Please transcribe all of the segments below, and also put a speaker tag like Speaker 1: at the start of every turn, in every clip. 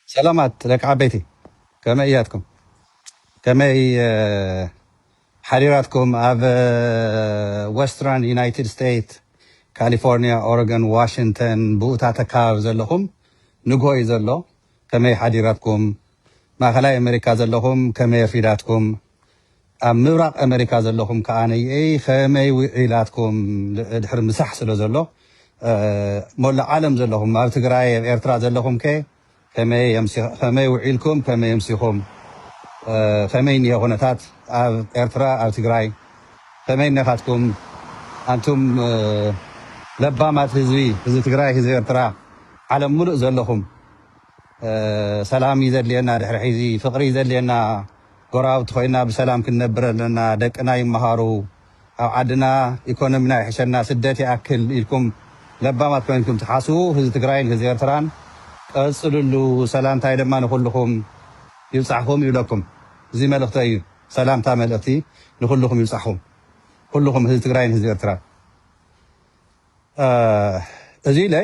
Speaker 1: ሰላማት ደቂ ዓበይቲ ከመይ እያትኩም ከመይ እ፣ ሓዲራትኩም ኣብ እ፣ ወስትራን ዩናይትድ ስቴትስ ካሊፎርኒያ ኦረገን ዋሽንተን ብኡታት ኣካባቢ ዘለኹም ንግሆ እዩ ዘሎ ከመይ ሓዲራትኩም ማእኸላይ ኣሜሪካ ዘለኹም ከመይ ኣርፊዳትኩም ኣብ ምብራቅ ኣመሪካ ዘለኹም ከኣ ነይእይ ኸመይ ዊዒላትኩም ድሕሪ ምሳሕ ስለ ዘሎ ሞላእ ዓለም ዘለኹም ኣብ ትግራይ ኣብ ኤርትራ ዘለኹም ከ ኸመይ ዊዒልኩም ከመይ ኣምሲኹም ኸመይ እኒሀ ኩነታት ኣብ ኤርትራ ኣብ ትግራይ ኸመይ እነካትኩም ኣንቱም ለባማት ህዝቢ ህዝቢ ትግራይ ህዝቢ ኤርትራ ዓለም ሙሉእ ዘለኹም ሰላም እዩ ዘድልየና ድሕሪ ሒዚ ፍቅሪ እዩ ዘድልየና ጎረባብቲ ኮይና ብሰላም ክንነብር ኣለና ደቅና ይመሃሩ ኣብ ዓድና ኢኮኖሚና ይሕሸና ስደት ይኣክል ኢልኩም ለባማት ኮይንኩም ትሓስቡ ህዝቢ ትግራይን ህዝቢ ኤርትራን ቀፅልሉ ሰላምታይ ድማ ንኩልኩም ይብፃሕኩም ይብለኩም እዚ መልእክተይ እዩ ሰላምታ መልእክቲ ንኩልኩም ይብፃሕኩም ኩልኩም ህዝቢ ትግራይን ህዝቢ ኤርትራን እዚ ኢለ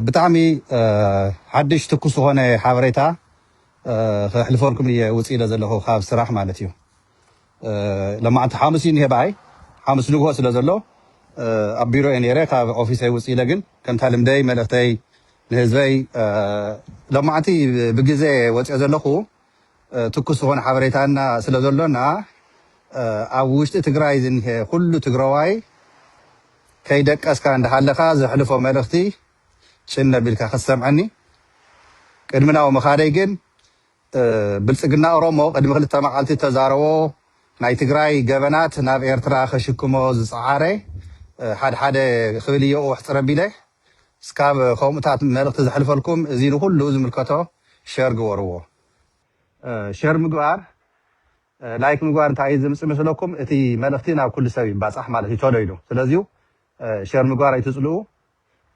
Speaker 1: ብጣዕሚ ሓድሽ ትኩስ ዝኾነ ሓበሬታ ከሕልፈልኩም እየ ውፅ ኢለ ዘለኹ ካብ ስራሕ ማለት እዩ ለማዕንቲ ሓሙስ እዩ እኒሀ በኣይ ሓሙስ ንግሆ ስለ ዘሎ ኣብ ቢሮ እየ ነይረ ካብ ኦፊሰይ ውፅ ኢለ ግን ከምታ ልምደይ መልእኽተይ ንህዝበይ ለማዕንቲ ብግዜ ወፅኦ ዘለኹ ትኩስ ዝኮነ ሓበሬታ እና ስለ ዘሎና ኣብ ውሽጢ ትግራይ ዝኒሀ ኩሉ ትግረዋይ ከይደቀስካ እንዳሃለካ ዘሕልፎ መልእክቲ ጭን ኣቢልካ ክትሰምዐኒ ቅድሚ ናው ምካደይ ግን ብልጽግና ኦሮሞ ቅድሚ ክልተ መዓልቲ እተዛረቦ ናይ ትግራይ ገበናት ናብ ኤርትራ ከሽክሞ ዝጸዓረ ሓድሓደ ክብል እየ ኡሕጽር ኣቢለ እስካብ ከምኡታት መልእክቲ ዘሕልፈልኩም እዚ ንኩሉ ዝምልከቶ ሸር ግበርዎ ሸር ምግባር ላይክ ምግባር እንታይ ዝምፅ መስለኩም እቲ መልእክቲ ናብ ኩሉ ሰብ ይባፃሕ ማለት እዩ ቶሎ ኢሉ ስለዚ ሸር ምግባር ኣይትፅልኡ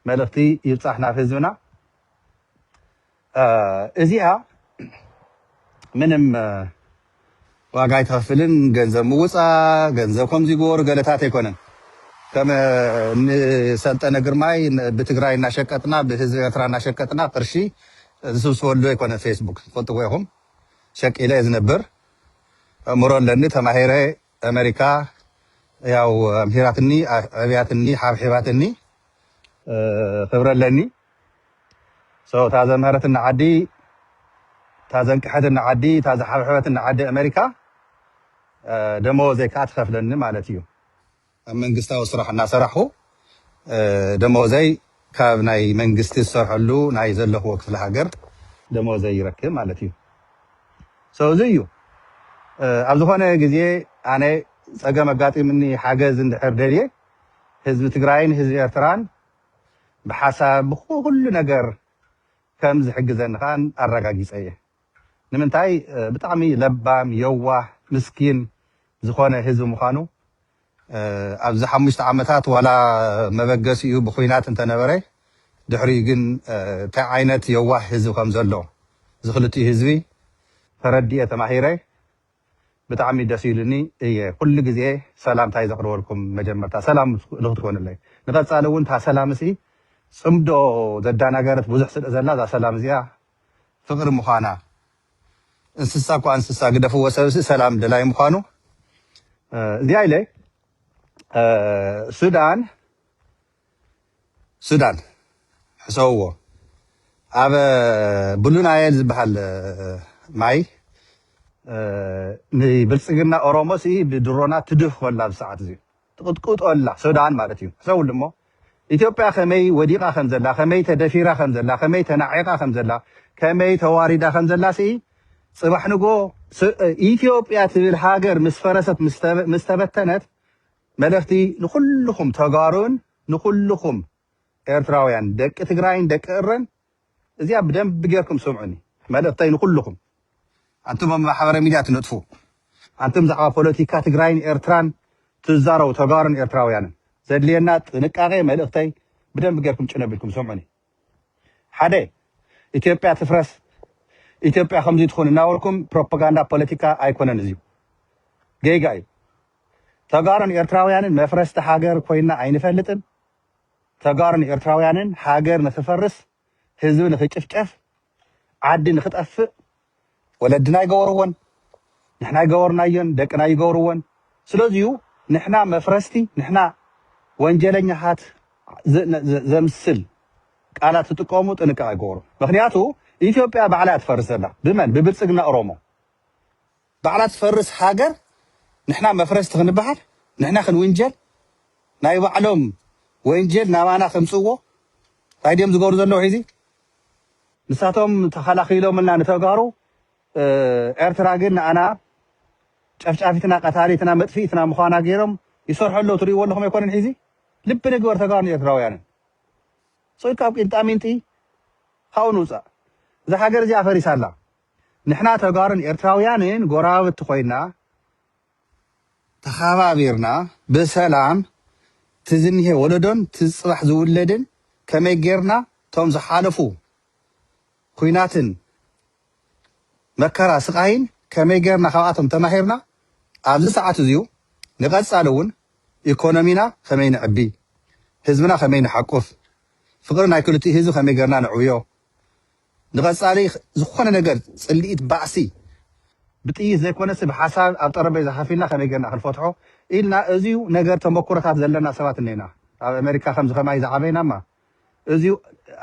Speaker 1: መልእክቲ ይብፃሕ ናብ ህዝብና እዚኣ ምንም ዋጋ ኣይትኸፍልን ገንዘብ ምውፃ ገንዘብ ከምዚ ጎሩ ገለታት ኣይኮነን ከም ንሰልጠነ ግርማይ ብትግራይ እናሸቀጥና ብህዝቢ ኤርትራ እናሸቀጥና ቅርሺ ዝስብስበሉ ኣይኮነ ፌስቡክ ትፈልጥዎ ኢኹም ሸቂለ ዝነብር እምሮ ኣለኒ ተማሂረ ኣመሪካ ያው ኣምሂራትኒ ኣዕብያትኒ ሓብሒባትኒ ክብሪ ኣለኒ ሶ እታ ዘምሀረትኒ ዓዲ እታ ዘንቀሐትኒ ዓዲ እታ ዝሓብሐበትኒ ዓዲ ኣመሪካ ደመወዘይ ከዓ ትኸፍለኒ ማለት እዩ ኣብ መንግስታዊ ስራሕ እናሰራሕኹ ደሞዘይ ካብ ናይ መንግስቲ ዝሰርሐሉ ናይ ዘለክዎ ክፍለ ሃገር ደሞዘይ ይረክብ ማለት እዩ so እዚ እዩ ኣብ ዝኮነ ግዜ ኣነ ጸገም ኣጋጢምኒ ሓገዝ እንድሕር ደልየ ህዝቢ ትግራይን ህዝቢ ኤርትራን ብሓሳብ ብኩሉ ነገር ከም ዝሕግዘኒ ከኣ ኣረጋጊጸ እየ ንምንታይ ብጣዕሚ ለባም የዋህ ምስኪን ዝኮነ ህዝቢ ምኳኑ ኣብዚ ሓሙሽተ ዓመታት ዋላ መበገሲኡ ብኹናት እንተነበረ ድሕሪኡ ግን ታይ ዓይነት የዋህ ህዝቢ ከምዘሎ እዚ ክልቲኡ ህዝቢ ተረዲኤ ተማሂረ ብጣዕሚ ደስ ኢሉኒ እየ ኩሉ ግዜ ሰላምታይ ዘቅርበልኩም መጀመርታ ሰላም ንክትኮኑለይ ንቀፃሊ እውን እታ ሰላም እሲ ፅምዶ ዘዳናገረት ብዙሕ ስለዘላ እዛ ሰላም እዚኣ ፍቅሪ ምኳና እንስሳ እኳ እንስሳ ግደፍዎ ሰብሲ ሰላም ደላይ ምዃኑ እዚኣ ኢለ ሱዳን ሱዳን ሕሰውዎ ኣብ ብሉናየል ዝበሃል ማይ ንብልፅግና ኦሮሞስ ብድሮናት ትድህ ኮላ ብሰዓት እዚ ትቕጥቅጦ ኣላ ሱዳን ማለት እዩ። ሕሰብሉ እሞ ኢትዮጵያ ከመይ ወዲቓ ከም ዘላ፣ ከመይ ተደፊራ ከም ዘላ፣ ከመይ ተናዒቓ ከም ዘላ፣ ከመይ ተዋሪዳ ከም ዘላ ስኢ ጽባሕ ንግሆ ኢትዮጵያ ትብል ሃገር ምስ ፈረሰት ምስ ተበተነት መልእኽቲ ንኹልኹም ተጋሩን ንኹልኹም ኤርትራውያን ደቂ ትግራይን ደቂ እረን እዚኣ ብደንቢ ጌርኩም ስምዑኒ መልእኽተይ ንኹሉኹም ኣንቱም ኣብ ማሕበራዊ ሚድያ ትነጥፉ ኣንቱም ብዛዕባ ፖለቲካ ትግራይን ኤርትራን ትዛረቡ ተጋሩን ኤርትራውያንን ዘድልየና ጥንቃቄ መልእኽተይ ብደንቢ ጌርኩም ጭን ኣቢልኩም ስምዑኒ ሓደ ኢትዮጵያ ትፍረስ ኢትዮጵያ ከምዚ ትኹን እናበልኩም ፕሮፓጋንዳ ፖለቲካ ኣይኮነን እዚዩ ጌጋ እዩ ተጋሩን ኤርትራውያንን መፍረስቲ ሃገር ኮይና ኣይንፈልጥን ተጋሩን ኤርትራውያንን ሃገር ንኽፈርስ ህዝቢ ንኽጭፍጨፍ ዓዲ ንኽጠፍእ ወለድና ኣይገበርዎን ንሕና ኣይገበርናዮን ደቅና ኣይገብርዎን ስለዚዩ ንሕና መፍረስቲ ንሕና ወንጀለኛታት ዘምስል ቃላት ትጥቀሙ ጥንቃቄ ግበሩ ምኽንያቱ ኢትዮጵያ ባዕላ እያ ትፈርስ ዘላ ብመን ብብልፅግና ኦሮሞ ባዕላ ትፈርስ ሃገር ንሕና መፍረስቲ ክንበሃል ንሕና ክንውንጀል ናይ ባዕሎም ወንጀል ናባና ከምጽእዎ ታይ ድዮም ዝገብሩ ዘለዉ ሒዚ ንሳቶም ተኸላኺሎምልና ንተጋሩ ኤርትራ ግን ንኣና ጨፍጫፊትና ቀታሊትና መጥፊኢትና ምዃና ጌሮም ይሰርሑ ኣለዉ ትርእይዎ ኣለኹም ኣይኮነን ሒዚ ልቢ ንግበር ተጋሩን ኤርትራውያንን ጾይ ካብ ቂንጣሚንጢ ካብኡ ንውጻእ እዛ ሃገር እዚኣ ፈሪሳ ኣላ ንሕና ተጋሩን ኤርትራውያንን ጎረባብቲ ኮይና ተኸባቢርና ብሰላም እቲ ዝኒሀ ወለዶን እቲ ፅባሕ ዝውለድን ከመይ ጌርና እቶም ዝሓለፉ ኹናትን መከራ ስቓይን ከመይ ጌርና ካብኣቶም ተማሂርና ኣብዚ ሰዓት እዚዩ ንቐፃሊ እውን ኢኮኖሚና ከመይ ነዕቢ ህዝብና ከመይ ንሓቁፍ ፍቕሪ ናይ ክልቲኡ ህዝቢ ከመይ ጌርና ነዕብዮ ንቐጻሊ ዝኾነ ነገር ጽልኢት ባእሲ ብጥይት ዘይኮነሲ ብሓሳብ ኣብ ጠረጴዛ ከፍ ኢልና ከመይ ጌርና ክንፈትሖ ኢልና እዚዩ ነገር ተመኩሮታት ዘለና ሰባት እኔና ኣብ ኣመሪካ ከምዚ ከማይ ዝዓበይናማ እዚዩ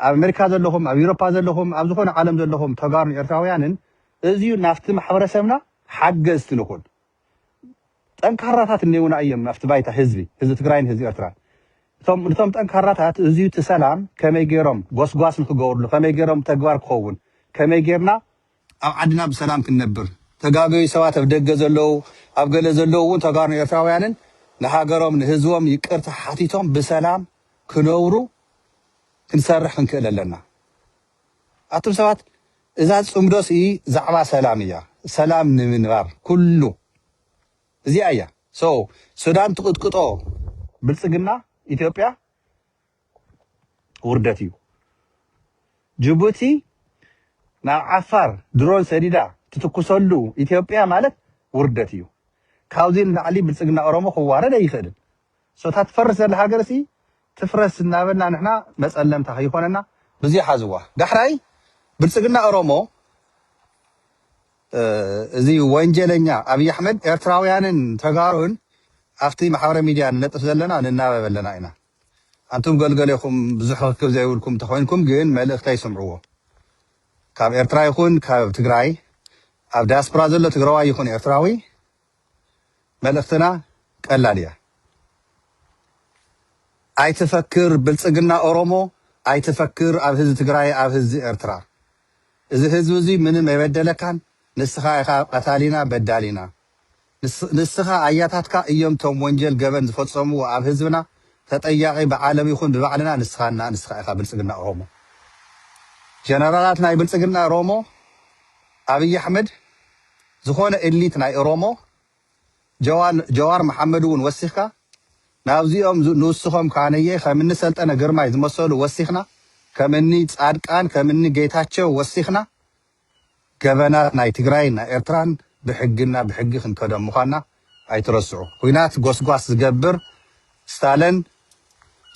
Speaker 1: ኣብ ኣመሪካ ዘለኹም ኣብ ዩሮፓ ዘለኹም ኣብ ዝኾነ ዓለም ዘለኹም ተጋሩን ኤርትራውያንን እዚዩ ናፍቲ ማሕበረሰብና ሓገዝቲ ንኹን ጠንካራታት እኔውና እዬም ኣብቲ ባይታ ህዝቢ ህዝቢ ትግራይን ህዝቢ ኤርትራን እቶም ንቶም ጠንካራታት እዙይ እቲ ሰላም ከመይ ገይሮም ጎስጓስ ንክገብርሉ ከመይ ገይሮም ብተግባር ክኸውን ከመይ ገይርና ኣብ ዓድና ብሰላም ክንነብር ተጋገዩ ሰባት ኣብ ደገ ዘለው ኣብ ገለ ዘለው እውን ተጋሩን ኤርትራውያንን ንሃገሮም ንህዝቦም ይቅርታ ሓቲቶም ብሰላም ክነብሩ ክንሰርሕ ክንክእል ኣለና ኣቱም ሰባት እዛ ጽምዶ ሲ ዛዕባ ሰላም እያ ሰላም ንምንባር ኩሉ እዚኣ እያ so ሱዳን ትቅጥቅጦ ብልጽግና ኢትዮጵያ ውርደት እዩ ጅቡቲ ናብ ዓፋር ድሮን ሰዲዳ ትትኩሰሉ ኢትዮጵያ ማለት ውርደት እዩ ካብዚ ንላዕሊ ብልጽግና ኦሮሞ ክዋረድ ኣይኽእልን So እታ ትፈርስ ዘላ ሃገርሲ ትፍረስ እናበልና ንሕና መፀለምታ ከይኾነና ብዙይ ሓዝዋ። ዳሕራይ ብልፅግና ኦሮሞ እዚ ወንጀለኛ ኣብይ ኣሕመድ ኤርትራውያንን ተጋሩን ኣብቲ ማሕበረ ሚድያ ንለጥፍ ዘለና ንናበብ ኣለና ኢና። ኣንቱም ገልገሌኹም ብዙሕ ርክብ ዘይብልኩም እንተኾይንኩም ግን መልእኽተይ ስምዕዎ። ካብ ኤርትራ ይኹን ካብ ትግራይ ኣብ ዳያስፖራ ዘሎ ትግራዋይ ይኹን ኤርትራዊ መልእኽትና ቀላል እያ ኣይትፈክር ብልፅግና ኦሮሞ ኣይትፈክር ኣብ ህዝቢ ትግራይ ኣብ ህዝቢ ኤርትራ እዚ ህዝቢ እዙይ ምንም ኣይበደለካን ንስኻ ኢኻ ቀታሊና በዳሊና ንስኻ ኣያታትካ እዮም ቶም ወንጀል ገበን ዝፈፀምዎ ኣብ ህዝብና ተጠያቂ ብዓለም ይኹን ብባዕልና ንስኻ እና ንስኻ ኢኻ ብልፅግና ኦሮሞ ጀነራላት ናይ ብልፅግና ኦሮሞ ኣብይ ኣሕመድ ዝኾነ እሊት ናይ እሮሞ ጀዋን ጀዋር መሓመድ እውን ወሲኽካ ናብዚኦም ንውስኾም ካነየ ከምኒ ሰልጠነ ግርማይ ዝመሰሉ ወሲኽና ከምኒ ፃድቃን ከምኒ ጌታቸው ወሲኽና ገበናት ናይ ትግራይን ናይ ኤርትራን ብሕግና ብሕጊ ክንከዶም ምዃንና ኣይትረስዑ ኹናት ጎስጓስ ዝገብር ስታለን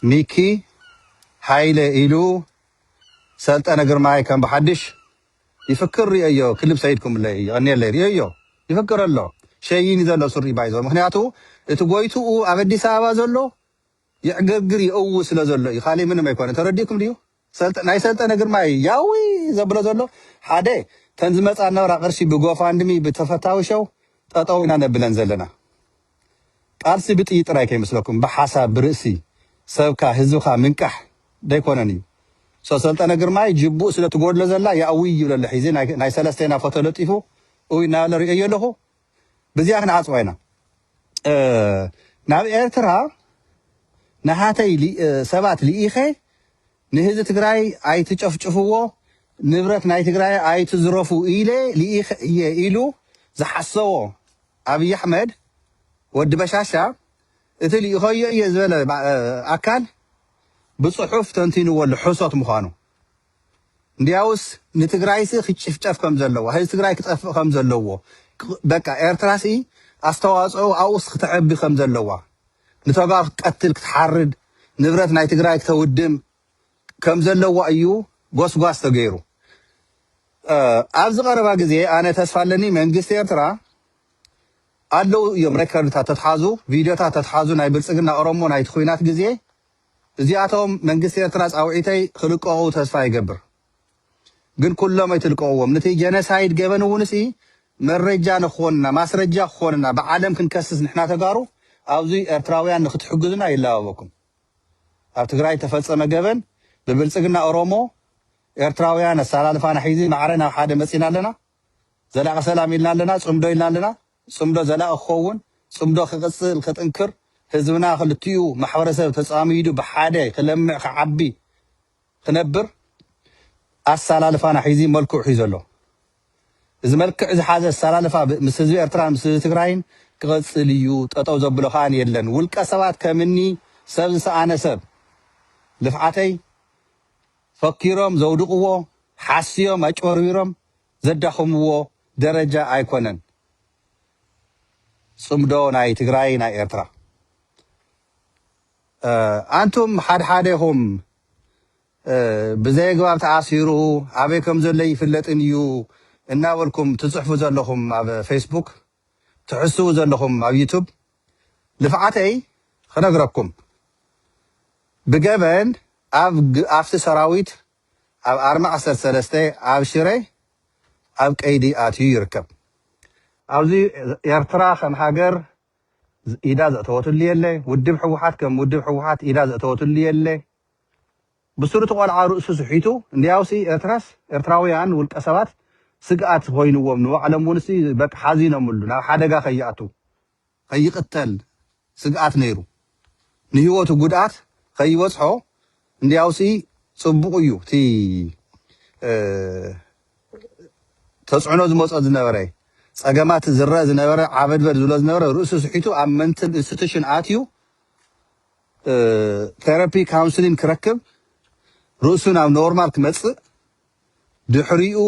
Speaker 1: ሚኪ ሃይለ ኢሉ ሰልጠነ ግርማይ ከም ብሓድሽ ይፍክር ሪኤዮ ክልብ ሰይድ ኩምለይ የቀንየለይ ሪኤዮ ይፍክር ኣሎ ሸይኒ ዘሎ ሱሪ ባይዞ ምክንያቱ እቲ ጎይትኡ ኣብ ኣዲስ ኣበባ ዘሎ ይዕግርግር ይእዊ ስለ ዘሎ እዩ ካሊእ ምንም ኣይኮነ ተረዲእኩም ድዩ ሰልጠ ናይ ሰልጠነ ግርማይ ያዊ ዘብሎ ዘሎ ሓደ ተን ዝመጻ ነበራ ቅርሺ ብጎፋንድሚ ብተፈታዊ ሸው ጠጠው ኢና ነብለን ዘለና ቃልሲ ብጥይት ጥራይ ከይመስለኩም ብሓሳብ ብርእሲ ሰብካ ህዝብካ ምንቃሕ ደይኮነን እዩ ሰሰልጠነ ግርማይ ጅቡእ ስለ ትጎድሎ ዘላ ያእውይ ይብሎ ኣሎ ሒዚ ናይ ሰለስቴና ፎቶ ለጢፉ እውይ እናበለ ርእየዮ ኣለኹ ብዚኣ ክንዓጽዋ ኢና ናብ ኤርትራ ንሃተይ ሰባት ልኢኸ ንህዚ ትግራይ ኣይትጨፍጭፍዎ ንብረት ናይ ትግራይ ኣይትዝረፉ ኢለ ልኢኸ እየ ኢሉ ዝሓሰቦ ኣብይ ኣሕመድ ወዲ በሻሻ እቲ ልኢኸዮ እየ ዝበለ ኣካል ብፅሑፍ ተንቲንዎ ኣሎ ሕሶት ምዃኑ እንድያውስ ንትግራይሲ ክጭፍጨፍ ከም ዘለዎ ህዝቢ ትግራይ ክጠፍእ ከም ዘለዎ በቃ ኤርትራሲ ኣስተዋፅኦ ኣብኡስ ክተዕቢ ከም ዘለዋ ንተጋ ክትቀትል ክትሓርድ ንብረት ናይ ትግራይ ክተውድም ከም ዘለዋ እዩ ጎስጓስ ተገይሩ። ኣብዚ ቀረባ ግዜ ኣነ ተስፋ ኣለኒ መንግስቲ ኤርትራ ኣለው እዮም ሬከርድታት ተትሓዙ ቪድዮታት ተትሓዙ ናይ ብልጽግና ኦሮሞ ናይቲ ኩናት ግዜ እዚኣቶም መንግስቲ ኤርትራ ጻውዒተይ ክልቀቑ ተስፋ ይገብር ግን ኩሎም ኣይትልቀቕዎም ነቲ ጀነሳይድ ገበን እውንሲ መረጃ ንክኾንና ማስረጃ ክኾንና ብዓለም ክንከስስ ንሕና ተጋሩ ኣብዚ ኤርትራውያን ንክትሕግዙና ይላበበኩም ኣብ ትግራይ እተፈጸመ ገበን ብብልጽግና ኦሮሞ ኤርትራውያን ኣሰላልፋና ሒዚ ማዕረ ናብ ሓደ መጺና ኣለና ዘላቂ ሰላም ኢልና ኣለና ጽምዶ ኢልና ኣለና ጽምዶ ዘላቂ ክኸውን ጽምዶ ክቅጽል ክጥንክር ህዝብና ክልቲኡ ማሕበረሰብ ተጻሚዱ ብሓደ ክለምዕ ክዓቢ ክነብር ኣሳላልፋና ሒዚ መልክዑ ሒዙ ኣሎ። እዚ መልክዕ ዝሓዘ ኣሳላልፋ ምስ ህዝቢ ኤርትራን ምስ ህዝቢ ትግራይን ክቐጽል እዩ፣ ጠጠው ዘብሎ ከኣ የለን። ውልቀ ሰባት ከም እኒ ሰብ ዝሰኣነ ሰብ ልፍዓተይ ፈኪሮም ዘውድቕዎ፣ ሓስዮም ኣጭበርቢሮም ዘዳኽምዎ ደረጃ ኣይኮነን ጽምዶ ናይ ትግራይ ናይ ኤርትራ። ኣንቱም ሓድሓደኹም ብዘየግባብ ተኣሲሩ ኣበይ ከምዘሎ ኣይፍለጥን እዩ እናበልኩም ትፅሕፉ ዘለኹም ኣብ ፌስቡክ ትሕስው ዘለኹም ኣብ ዩቱብ ልፍዓተይ ክነግረኩም ብገበን ኣብ ኣፍቲ ሰራዊት ኣብ ኣርሚ ዓሰርተ ሰለስተ ኣብ ሽረ ኣብ ቀይዲ ኣትዩ ይርከብ። ኣብዚ ኤርትራ ከም ሃገር ኢዳ ዘእተወትሉ የለ ውድብ ሕውሓት ከም ውድብ ሕውሓት ኢዳ ዘእተወትሉ የለ ብሱሩ እቲ ቆልዓ ርእሱ ስሒቱ እንድያውሲ ኤርትራስ ኤርትራውያን ውልቀ ሰባት ስግኣት ኮይንዎም ንባዕሎም ውንሲ በቃ ሓዚኖምሉ ናብ ሓደጋ ከይኣቱ ከይቅተል ስግኣት ነይሩ ንህይወቱ ጉድኣት ከይበጽሖ እንድያውሲ ጽቡቕ እዩ እቲ ተጽዕኖ ዝመጾ ዝነበረ ጸገማት ዝረእ ዝነበረ ዓበድበድ ዝብሎ ዝነበረ ርእሱ ስሒቱ ኣብ መንትል ኢንስቲቱሽን ኣትዩ ቴራፒ ካውንስሊን ክረክብ ርእሱ ናብ ኖርማል ክመጽእ ድሕሪኡ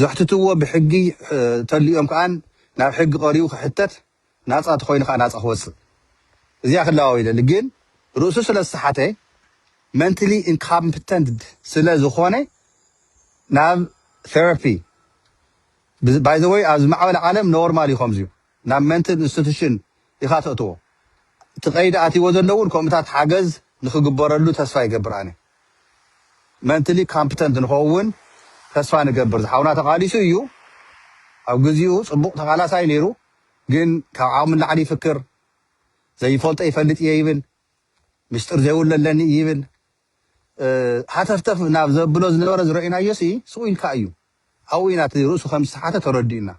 Speaker 1: ዘሕትትዎ ብሕጊ ተሊኦም ከኣን ናብ ሕጊ ቀሪቡ ክሕተት ናጻ ተኾይኑ ከኣ ናጻ ክወጽእ እዚኣ ክለዋወይለሊ ግን ርእሱ ስለ ዝሰሓተ መንትሊ ኢንካምፕተንት ስለ ዝኾነ ናብ ቴራፒ ባይ ዘ ወይ ኣብ ዝማዕበለ ዓለም ኖርማል እዩ ከምዚዩ ናብ መንትል ኢንስቲቱሽን ኢኻ ተእትዎ እቲ ቀይዲ ኣትይዎ ዘለውን ከምኡታት ሓገዝ ንክግበረሉ ተስፋ ይገብር ኣነ መንትሊ ካምፕተንት ንኸዉን ተስፋ ንገብር ዝሓዉና ተቃሊሱ እዩ ኣብ ግዚኡ ጽቡቅ ተቃላሳይ ነይሩ ግን ካብ ዓቅሙ ንላዕሊ ይፍክር ዘይፈልጦ ይፈልጥ እየ ይብል ምስጢር ዘይብሉ ኣለኒ እዩ ይብል ሃተፍተፍ ናብ ዘብሎ ዝነበረ ዝረኢናዮሲ ስቁ ኢልካ እዩ ኣብኡ ኢና እቲ ርእሱ ከም ዝተሓተ ተረዲኡና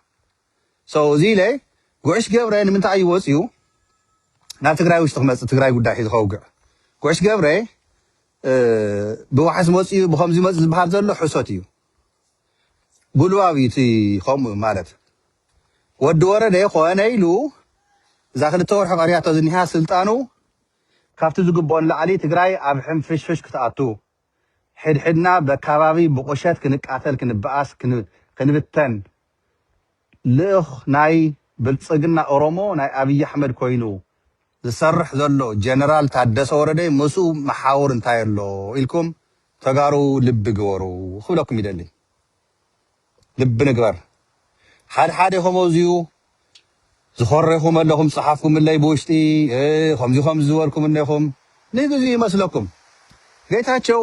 Speaker 1: so እዚ ኢለ ጉዕሽ ገብረ ንምንታይ እዩ ወጽዩ ናብ ትግራይ ውሽጢ ክመጽእ ትግራይ ጉዳይ ሒዙ ከውግዕ ጉዕሽ ገብረ ብዋሕስ መጽኡ ብከምዚ መጽ ዝበሃል ዘሎ ሕሶት እዩ ጉልባብ እዩ እቲ ከምኡ ማለት ወዲ ወረደ ኮነ ኢሉ እዛ ክልተ ወርሒ ቀሪያቶ ዝኒሃ ስልጣኑ ካብቲ ዝግብኦ ንላዕሊ ትግራይ ኣብ ሕንፍሽፍሽ ክትኣቱ ሕድሕድና በካባቢ ብቑሸት ክንቃተል ክንበኣስ ክንብተን ልኡኽ ናይ ብልጽግና ኦሮሞ ናይ ኣብይ ኣሕመድ ኮይኑ ዝሰርሕ ዘሎ ጀነራል ታደሰ ወረደይ ምስኡ መሓውር እንታይ ኣሎ ኢልኩም ተጋሩ ልቢ ግበሩ ክብለኩም ይደሊ። ልቢ ንግበር ሓድ ሓደ ከመዚኡ ዝኮሬኩም ኣለኩም ዝጸሓፍኩምለይ ብውሽጢ ከምዚ ከምዚ ዝበልኩም እኔኩም ንግዚኡ ይመስለኩም ጌታቸው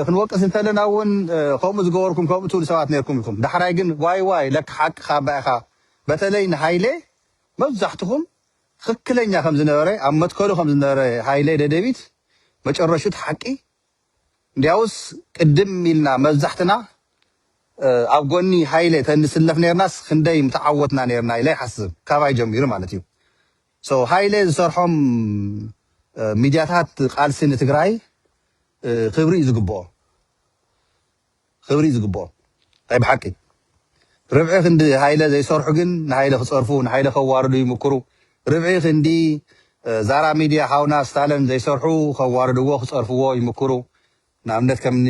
Speaker 1: ክንወቅስ እንተለና እውን ከምኡ ዝገበርኩም ከምኡ ትብሉ ሰባት ነርኩም ኢኩም ዳሕራይ ግን ዋይ ዋይ ለካ ሓቅካ እባ ኢካ በተለይ ንሃይሌ መብዛሕትኩም ትክክለኛ ከምዝነበረ ኣብ መትከሉ ከምዝነበረ ሃይሌ ደደቢት መጨረሽቱ ሓቂ እንዲያውስ ቅድም ኢልና መብዛሕትና ኣብ ጎኒ ሃይለ ተንስለፍ ኔርናስ ክንደይ ምተዓወትና ኔርና ኢለ ይሓስብ ካባይ ጀሚሩ ማለት እዩ so ሃይለ ዝሰርሖም ሚድያታት ቃልሲ ንትግራይ ክብሪ እዩ ዝግብኦ። ኽብሪ ዝግብኦ ናይ ብሓቂ ርብዒ ክንዲ ሃይለ ዘይሰርሑ ግን ንሃይለ ክፀርፉ ንሃይለ ከዋርዱ ይምክሩ ርብዒ ክንዲ ዛራ ሚድያ ሓውና ስታለን ዘይሰርሑ ከዋርድዎ ክፀርፍዎ ይምክሩ ንኣብነት ከምኒ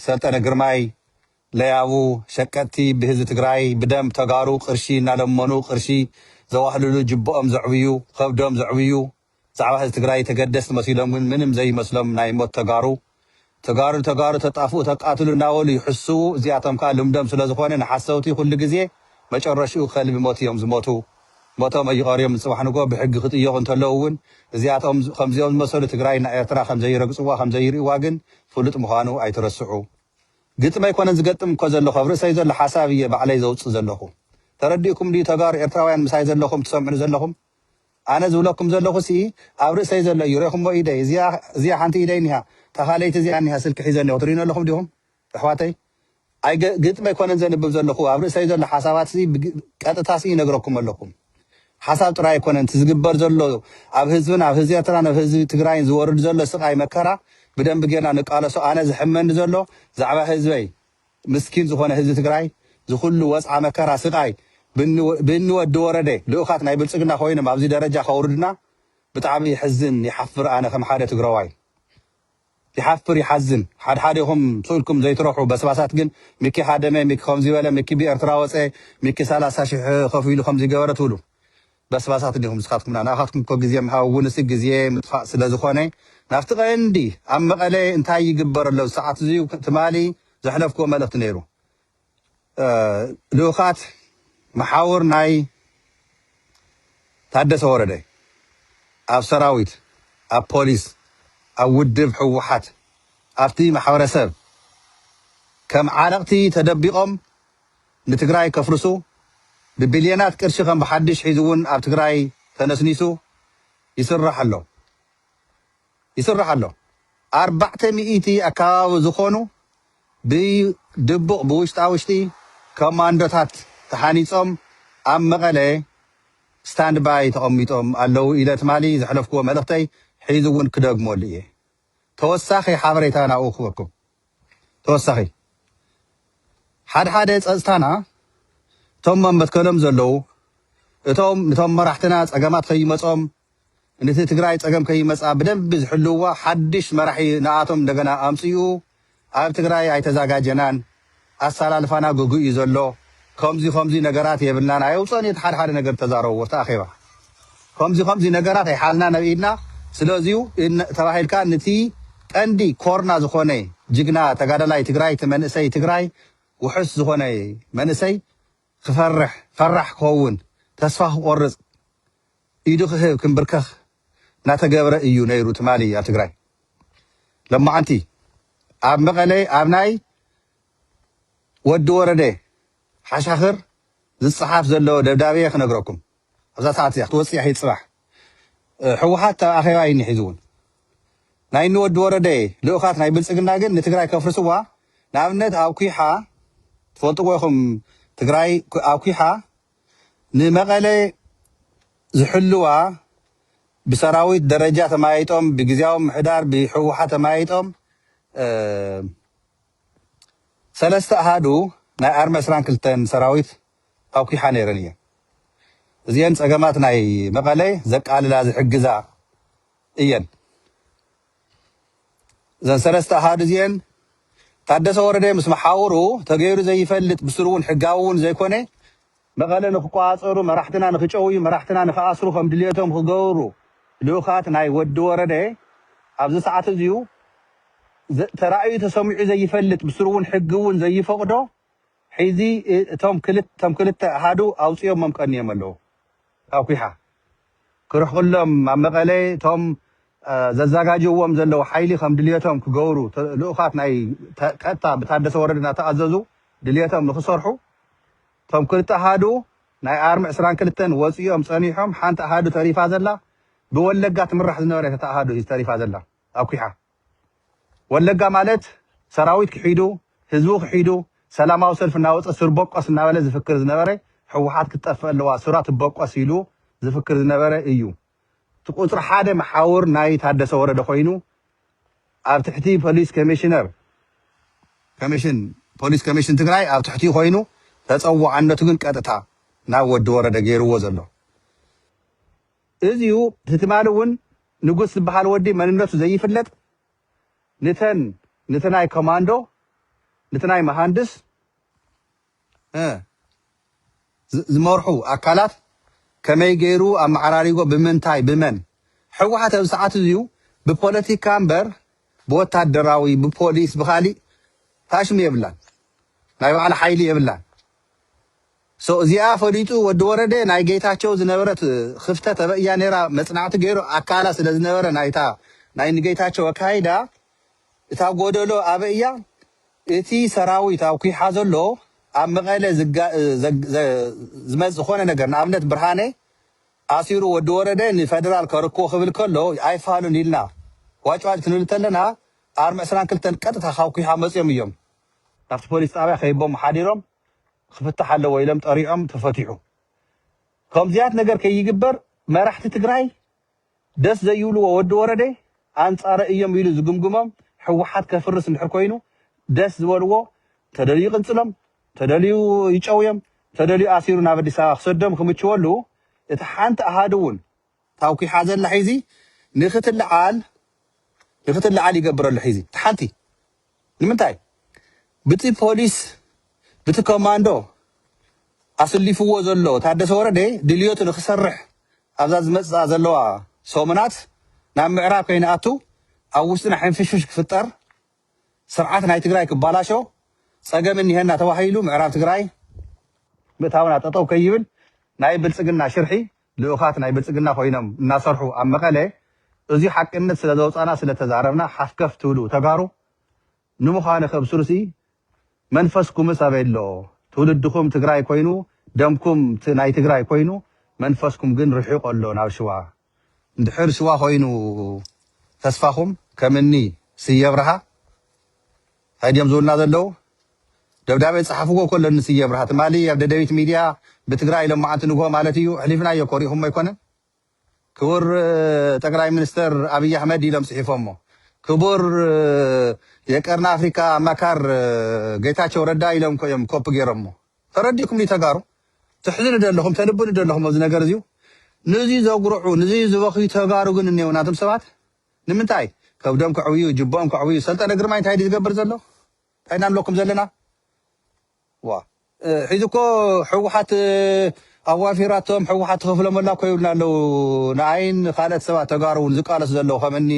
Speaker 1: ሰልጠነ ግርማይ ለያቡ ሸቀጥቲ ብህዝቢ ትግራይ ብደም ተጋሩ ቅርሺ እናለመኑ ቅርሺ ዘዋህልሉ ጅብኦም ዘዕብዩ ኸብዶም ዘዕብዩ ብዛዕባ ህዝቢ ትግራይ ተገደስቲ መሲሎም ግን ምንም ዘይመስሎም ናይ ሞት ተጋሩ ተጋሩ ንተጋሩ ተጣፍኡ ተቃትሉ እናበሉ ይሕስዉ እዚኣቶም ከኣ ልምዶም ስለዝኾነ ንሓሰውቲ ኩሉ ግዜ መጨረሽኡ ከልቢ ሞት እዮም ዝሞቱ ሞቶም ኣይቀርዮም ንፅባሕ ንግሆ ብሕጊ ክጥየቁ እንተለዉ እውን እዚኣቶም ከምዚኦም ዝመሰሉ ትግራይና ኤርትራ ከምዘይረግፅዋ ከምዘይርእዋ ግን ፍሉጥ ምዃኑ ኣይትረስዑ ግጥሚ ኣይኮነን ዝገጥም እኮ ዘለኹ ኣብ ርእሰይ ዘሎ ሓሳብ እየ ባዕለይ ዘውፅእ ዘለኹ ተረዲእኩም ድዩ ተጋሩ ኤርትራውያን ምሳይ ዘለኹም ትሰምዑኒ ዘለኹም ኣነ ዝብለኩም ዘለኹ ስኢ ኣብ ርእሰይ ዘሎ እዩ ሬኹሞ ኢደይ እዚኣ እዚኣ ሓንቲ ኢደይ እኒሃ እታ ካልኣይቲ እዚኣ እኒሃ ስልኪ ሒዘ ኣለኹ ትሪኡኒ ኣለኹም ዲኹም ኣሕዋተይ ኣይ ገ ግጥሚ ኣይኮነን ዘንብብ ዘለኹ ኣብ ርእሰይ ዘሎ ሓሳባት ስኢ ብግ ቀጥታ ስኢ ይነግረኩም ኣለኹ ሓሳብ ጥራይ ኣይኮነን እቲ ዝግበር ዘሎ ኣብ ህዝብን ኣብ ህዝቢ ኤርትራን ኣብ ህዝቢ ትግራይን ዝወርድ ዘሎ ስቃይ መከራ ብደንቢ ጌርና ንቃለሶ ኣነ ዝሕመኒ ዘሎ ዛዕባ ህዝበይ ምስኪን ዝኾነ ህዝቢ ትግራይ ዝኹሉ ወጽዓ መከራ ስቃይ ብእኒ ወዲ ወረደ ልኡኻት ናይ ብልጽግና ኮይኖም ኣብዚ ደረጃ ከውርዱና ብጣዕሚ የሕዝን ይሓፍር ኣነ ከም ሓደ ትግረዋይ ይሓፍር ይሓዝን ሓድሓዴኹም ስእልኩም ዘይትረሑ በስባሳት ግን ሚኪ ሃደመ ሚኪ ከምዚ በለ ሚኪ ብኤርትራ ወጸ ሚኪ ሰላሳ ሽሕ ከፊሉ ከምዚ ገበረ ትብሉ በስባሳት ዲኹም ንስኻትኩምና ንኣኻትኩም እኮ ግዜ ምሃብ ውንሲ ግዜ ምጥፋእ ስለዝኾነ ናብቲ ቀንዲ ኣብ መቐለ እንታይ ይግበር ኣሎ ዝሰዓት እዙይ ትማሊ ዘሕለፍክዎ መልእኽቲ ነይሩ ልኡኻት መሓውር ናይ ታደሰ ወረደ ኣብ ሰራዊት ኣብ ፖሊስ ኣብ ውድብ ህወሓት ኣብቲ ማሕበረሰብ ከም ዓለቕቲ ተደቢቖም ንትግራይ ከፍርሱ ብቢልየናት ቅርሺ ከም ብሓድሽ ሒዙ እውን ኣብ ትግራይ ተነስኒሱ ይስራሕ ኣሎ ይስራሕ ኣሎ ኣርባዕተ ሚእቲ ኣካባቢ ዝኾኑ ብድቡቕ ብውሽጣ ውሽጢ ኮማንዶታት ተሓኒፆም ኣብ መቐለ ስታንድ ባይ ተቐሚጦም ኣለው ኢለ ትማሊ ዘሕለፍክዎ መልእኽተይ ሒዚ እውን ክደግመሉ እየ ተወሳኺ ሓበሬታ ናብኡ ክበኩም። ተወሳኺ ሓድሓደ ፀፅታና እቶም ኣብ መትከሎም ዘለዉ እቶም ንቶም መራሕትና ፀገማት ከይመፆም ንቲ ትግራይ ፀገም ከይመፃ ብደንቢ ዝሕልውዋ ሓድሽ መራሒ ንኣቶም እንደገና ኣምፅኡ ኣብ ትግራይ ኣይተዛጋጀናን ኣሳላልፋና ግጉይ እዩ ዘሎ ከምዙይ ከምዙይ ነገራት የብልናን ኣየውፀእን እዩ እቲ ሓድሓደ ነገር ዝተዛረብዎ ኣብቲ ኣኼባ ከምዙይ ከምዙይ ነገራት ኣይሓልናን ኣብ ኢድና ስለዚ እዩ ተባሂልካ ንቲ ቀንዲ ኮርና ዝኾነ ጅግና ተጋዳላይ ትግራይ እቲ መንእሰይ ትግራይ ውሑስ ዝኾነ መንእሰይ ክፈርሕ፣ ፈራሕ ክኸውን፣ ተስፋ ክቆርጽ፣ ኢዱ ክህብ፣ ክንብርከኽ እናተገብረ እዩ ነይሩ ትማሊ ኣብ ትግራይ። ሎማዕንቲ ኣብ መቐለ ኣብ ናይ ወዲ ወረደ ሓሻኽር ዝጸሓፍ ዘሎ ደብዳቤ ክነግረኩም። ኣብዛ ሰዓት እዚኣ ክትወጽእ እያ ሒድ ጽባሕ ሕውሓት ኣብ ኣኼባ እዩኒ ሒዙ ውን ናይ እኒ ወዲ ወረደ ልኡኻት ናይ ብልጽግና ግን ንትግራይ ከፍርስዋ ንኣብነት ኣብ ኩሓ ትፈልጥዎ ኢኹም ትግራይ ኣብ ኩሓ ንመቐለ ዝሕልዋ ብሰራዊት ደረጃ ተማያይጦም ብግዜያዊ ምሕዳር ብሕውሓት ተማያይጦም ሰለስተ ኣሃዱ ናይ ኣርሚ 22 ሰራዊት ኣኩሓ ነይረን እየን። እዚኤን ፀገማት ናይ መቐለ ዘቃልላ ዝሕግዛ እየን። እዘን ሰለስተ ኣሃዱ እዚኤን ታደሰ ወረደ ምስ መሓውሩ ተገይሩ ዘይፈልጥ ብስሩ እውን ሕጋዊ እውን ዘይኮነ መቐለ ንክቆፃፀሩ መራሕትና ንክጨውዩ መራሕትና ንክኣስሩ ከም ድልየቶም ክገብሩ ልኡኻት ናይ ወዲ ወረደ ኣብዚ ሰዓት እዚዩ ተራእዩ ተሰሚዑ ዘይፈልጥ ብስሩ እውን ሕጊ እውን ዘይፈቕዶ ሒዚ እቶም ክልተ ክልተ ኣሃዱ ኣውጺኦሞም ቀንዮም ኣለዉ ካብ ኲሓ ክርሕቅሎም ኣብ መቀለ እቶም ዘዛጋጅውዎም ዘለዉ ሓይሊ ከም ድልየቶም ክገብሩ ልኡኻት ናይ ቀጥታ ብታደሰ ወረደ ናተኣዘዙ ድልየቶም ንክሰርሑ እቶም ክልተ ኣሃዱ ናይ ኣርሚ ዕስራን ክልተን ወጺኦም ጸኒሖም ሓንቲ ኣሃዱ ተሪፋ ዘላ ብወለጋ ትምራሕ ዝነበረት እታ ኣሃዱ ሒዚ ተሪፋ ዘላ ኣብ ኲሓ ወለጋ ማለት ሰራዊት ክሒዱ ህዝቡ ክሒዱ ሰላማዊ ሰልፊ እናወፀ ሱር ቦቆስ እናበለ ዝፍክር ዝነበረ ህወሓት ክትጠፍእ ኣለዋ ሱራ ትቦቆስ ኢሉ ዝፍክር ዝነበረ እዩ እቲ ቁፅሪ ሓደ መሓውር ናይ ታደሰ ወረደ ኮይኑ ኣብ ትሕቲ ፖሊስ ኮሚሽነር ኮሚሽን ፖሊስ ኮሚሽን ትግራይ ኣብ ትሕቲኡ ኮይኑ ተፀዋዕነቱ ግን ቀጥታ ናብ ወዲ ወረደ ገይርዎ ዘሎ እዚዩ እቲ ትማሊ እውን ንጉስ ዝበሃል ወዲ መንነቱ ዘይፍለጥ ንተን ንቲ ናይ ኮማንዶ ንቲ ናይ መሃንድስ እ ዝመርሑ ኣካላት ከመይ ገይሩ ኣመዓራሪጎ ብምንታይ ብመን ሕወሓት ኣብዚ ሰዓት እዚዩ ብፖለቲካ እምበር ብወታደራዊ ብፖሊስ ብካሊእ ታሽሙ የብላን ናይ ባዕላ ሓይሊ የብላን So እዚኣ ፈሊጡ ወዲ ወረደ ናይ ገይታቸው ዝነበረት ኽፍተት ኣበእያ ነይራ መፅናዕቲ ገይሩ ኣካላ ስለዝነበረ ናይታ ናይ ንገይታቸው ኣካይዳ እታ ጎደሎ ኣበይ እያ እቲ ሰራዊት ኣብ ኩይሓ ዘሎ ኣብ መቐለ ዝመፅ ዝኾነ ነገር ንኣብነት ብርሃነ ኣሲሩ ወዲ ወረደ ንፈደራል ከርክቦ ክብል ከሎ ኣይፋሉን ኢልና ዋጭዋጭ ክንብል ተለና ኣርሚ ዕስራን ክልተን ቀጥታ ካብ ኩይሓ መፅዮም እዮም ናብቲ ፖሊስ ጣብያ ከይቦም ሓዲሮም ክፍታሕ ኣለዎ ኢሎም ጠሪዖም ተፈቲሑ ከምዚያት ነገር ከይግበር መራሕቲ ትግራይ ደስ ዘይብልዎ ወዲ ወረደ ኣንፃረ እዮም ኢሉ ዝግምግሞም ሕወሓት ከፍርስ እንድሕር ኮይኑ ደስ ዝበልዎ ተደልዩ ይቅንፅሎም ተደልዩ ይጨውዮም ተደልዩ ኣሲሩ ናብ ኣዲስ ኣበባ ክሰዶም ክምችወሉ እቲ ሓንቲ ኣሃዱ እውን ታውኪሓ ዘላ ሒዚ ንክትልዓል ንክትልዓል ይገብር ኣሎ ሒዚ እቲ ሓንቲ ንምንታይ ብቲ ፖሊስ ብቲ ኮማንዶ ኣስሊፍዎ ዘሎ ታደሰ ወረደ ድልዮቱ ንክሰርሕ ኣብዛ ዝመፅኣ ዘለዋ ሰሙናት ናብ ምዕራብ ከይንኣቱ ኣብ ውሽጥና ሕንፍሽፍሽ ክፍጠር ስርዓት ናይ ትግራይ ክባላሾ ፀገም እኒሀና ተባሂሉ ምዕራብ ትግራይ ምእታውና ጠጠው ከይብል ናይ ብልፅግና ሽርሒ ልኡኻት ናይ ብልፅግና ኮይኖም እናሰርሑ ኣብ መቐለ እዙይ ሓቅነት ስለዘውፃና ስለተዛረብና ሓፍከፍ ትብሉ ተጋሩ ንምዃኑ ከብስሩሲ መንፈስኩምስ ኣበይ ኣሎ ትውልድኹም ትግራይ ኮይኑ ደምኩም ናይ ትግራይ ኮይኑ መንፈስኩም ግን ርሒቁ ኣሎ ናብ ሽዋ እንድሕር ሽዋ ኮይኑ ተስፋኹም ከምኒ ስየብርሃ። ታይ ድዮም ዝብሉና ዘለው ደብዳቤ ፃሓፍዎ እኮ ኣለኒ ስየ ኣብርሃ ትማሊ ኣብ ደደቢት ሚድያ ብትግራይ ሎማዓንቲ ንግሆ ማለት እዩ ኣሕሊፍናዮ እኮ ሪኢኹሞ ኣይኮነን ክቡር ጠቅላይ ሚኒስተር ኣብይ ኣሕመድ ኢሎም ፅሒፎሞ ክቡር የቀርኒ ኣፍሪካ ኣማካር ጌታቸው ረዳ ኢሎም እኮ እዮም ኮፒ ገይሮሞ ተረዲእኩም ድዩ ተጋሩ ትሕዝኑ ዶ ኣለኹም ተልብኑ ዶ ኣለኹም ኣብዚ ነገር እዚዩ ንዙ ዘጉርዑ ንዙ ዝበኽዩ ተጋሩ ግን እኔው ናቶም ሰባት ንምንታይ ከብዶም ከዕብዩ ጅቦኦም ከዕብዩ ሰልጠነ ግርማይ እንታይ ድዩ ዝገብር ዘሎ እንታይ ኢና ንብለኩም ዘለና ዋ ሕዚ እኮ ሕወሓት ኣዋፊራቶም ሕወሓት ትኸፍሎም ኣላ እኮ ይብሉና ኣለው ንኣይን ንካልኦት ሰባት ተጋሩ እውን ዝቃለሱ ዘለዉ ከም እኒ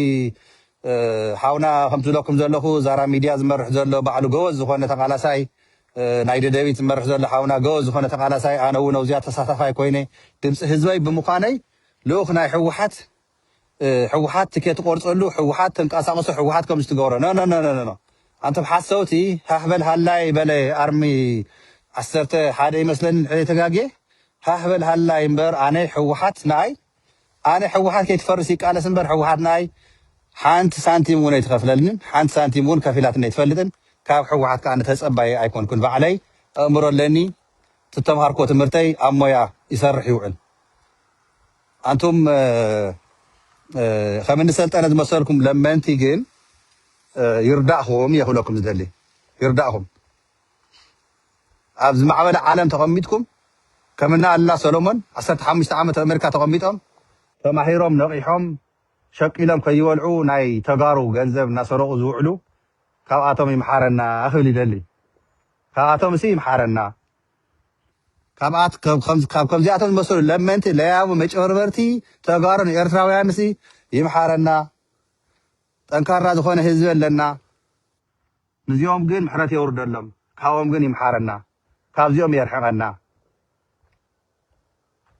Speaker 1: ሓውና ከምቲ ዝብለኩም ዘለኹ ዛራ ሚድያ ዝመርሕ ዘሎ ባዕሉ ገወዝ ዝኾነ ተቃላሳይ ናይ ደደቢት ዝመርሕ ዘሎ ሓውና ገወዝ ዝኾነ ተቃላሳይ ኣነ እውን ኣብዚኣ ተሳታፋይ ኮይነ ድምፂ ህዝበይ ብምዃነይ ልኡኽ ናይ ሕወሓት ሕውሓት ትኬት ትቆርፀሉ ሕውሓት ተንቃሳቅሶ ሕውሓት ከምዚ ትገብሮ ኖኖኖኖኖ ኣንቶም ሓሰውቲ ሃህ በል ሃላይ በለ ኣርሚ ዓሰርተ ሓደ ይመስለኒ እንድሕር ዘይተጋግየ ሃህ በል ሃላይ እምበር ኣነ ሕውሓት ንኣይ ኣነ ሕውሓት ከይትፈርስ ይቃለስ እምበር ሕውሓት ንኣይ ሓንቲ ሳንቲም እውን ኣይትኸፍለልንን ሓንቲ ሳንቲም እውን ከፊላትኒ ኣይትፈልጥን ካብ ሕወሓት ከዓ ተፀባየ ኣይኮንኩን ባዕለይ ኣእምሮ ኣለኒ ትተምሃርኮ ትምህርተይ ኣብ ሞያ ይሰርሕ ይውዕል ኣንቱም ከም እኒ ሰልጠነ ዝመሰልኩም ለመንቲ ግን ይርዳእኹም እየ ክብለኩም ዝደሊ ይርዳእኹም ኣብ ዝማዕበለ ዓለም ተቐሚጥኩም ከም እኒ ኣሉላ ሰሎሞን ዓሰርተ ሓሙሽተ ዓመት ኣብ ኣሜሪካ ተቐሚጦም ተማሂሮም ነቒሖም ሸቂሎም ከይበልዑ ናይ ተጋሩ ገንዘብ እናሰረቑ ዝውዕሉ ካብኣቶም ይምሓረና ክብል ይደሊ ካብኣቶምሲ ይምሓረና ካብኣት ከም ከም ካብ ከምዚኣቶም ዝመሰሉ ለመንቲ ለያቡ መጨበርበርቲ ተጋሩ ንኤርትራውያን ሲ ይምሓረና ጠንካራ ዝኾነ ህዝቢ ኣለና ንዚኦም ግን ምሕረት የውርደሎም ካብኦም ግን ይምሓረና ካብዚኦም የርሕቐና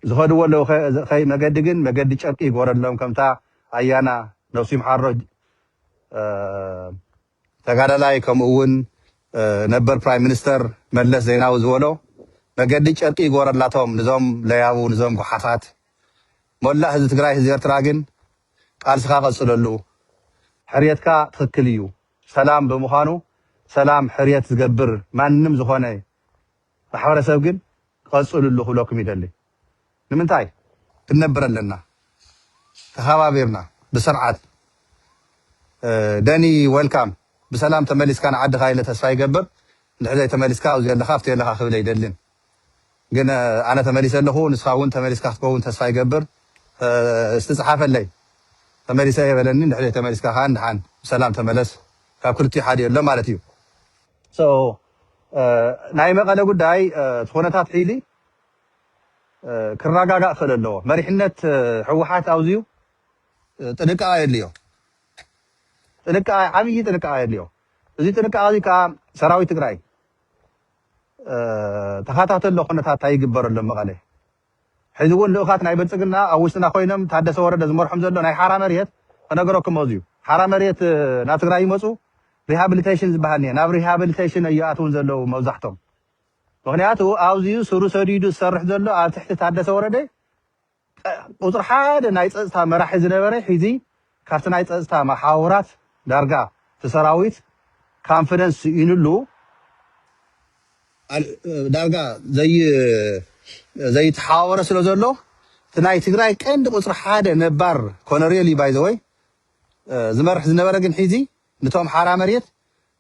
Speaker 1: ዝኸድዎ ኣለዉ ከይ መገዲ ግን መገዲ ጨርቂ ይጎረሎም ከምታ ኣያና ነብሱ ይምሓሮ ተጋዳላይ ከምኡ እውን ነበር ፕራይም ሚኒስተር መለስ ዜናዊ ዝበሎ መገዲ ጨርቂ ይግበረላቶም ንዞም ለያቡ ንዞም ጉሓፋት ሞላእ ህዝቢ ትግራይ ህዝቢ ኤርትራ ግን ቃልስኻ ቀፅለሉ ሕርየትካ ትኽክል እዩ ሰላም ብምዃኑ ሰላም ሕርየት ዝገብር ማንም ዝኾነ ማሕበረሰብ ግን ቀፅሉሉ ክብለኩም ይደሊ። ንምንታይ? ክንነብር ኣለና ተኸባቢርና ብስርዓት። ደኒ ዌልካም ብሰላም ተመሊስካ ንዓድኻ ኢለ ተስፋ ይገብር እንድሕር ዘይተመሊስካ ኣብዙይ ኣለኻ ኣብቱይ ኣለኻ ክብል ኣይደልን ግን ኣነ ተመሊሰ ኣለኹ ንስኻ እውን ተመሊስካ ክትከውን ተስፋ ይገብር እስቲ ፀሓፈለይ ተመሊሰ እየ በለኒ እንድሕር ዘይተመሊስካ ከዓ ንድሓን ብሰላም ተመለስ ካብ ክልቲኡ ሓደ የሎ ማለት እዩ። So ናይ መቐለ ጉዳይ እቲ ኩነታት ሕዚ ክራጋጋእ ክእል ኣለዎ መሪሕነት ህወሓት ኣብዚዩ ጥንቃቐ የድልዮ ጥንቃቐ ዓብዪ ጥንቃቐ የድልዮ እዚ ጥንቃቐ እዚ ከዓ ሰራዊት ትግራይ ተኸታተሎ ኩነታት እንታይ ይግበር ኣሎ መቐለ ሕዚ እውን ልኡኻት ናይ ብልፅግና ኣብ ውሽጥና ኮይኖም ታደሰ ወረደ ዝመርሖም ዘሎ ናይ ሓራ መሬት ክነገረኩም መፅዩ ሓራ መሬት ናብ ትግራይ ይመፁ ሪሃብሊቴሽን ዝበሃል እኒሀ ናብ ሪሃብሊቴሽን እዩ ኣትውን ዘለው መብዛሕቶም ምክንያቱ ኣብዚዩ ስሩ ሰዲዱ ዝሰርሕ ዘሎ ኣብ ትሕቲ ታደሰ ወረደ ቁፅሪ ሓደ ናይ ፀፅታ መራሒ ዝነበረ ሕዚ ካብቲ ናይ ፀፅታ መሓውራት ዳርጋ እቲ ሰራዊት ካንፍደንስ ስኢኑሉ ዳርጋ ዘይተሓዋወረ ስለ ዘሎ እቲ ናይ ትግራይ ቀንዲ ቁፅሪ ሓደ ነባር ኮነሬል እዩ ባይዘወይ ዝመርሕ ዝነበረ ግን ሒዚ ንቶም ሓራ መሬት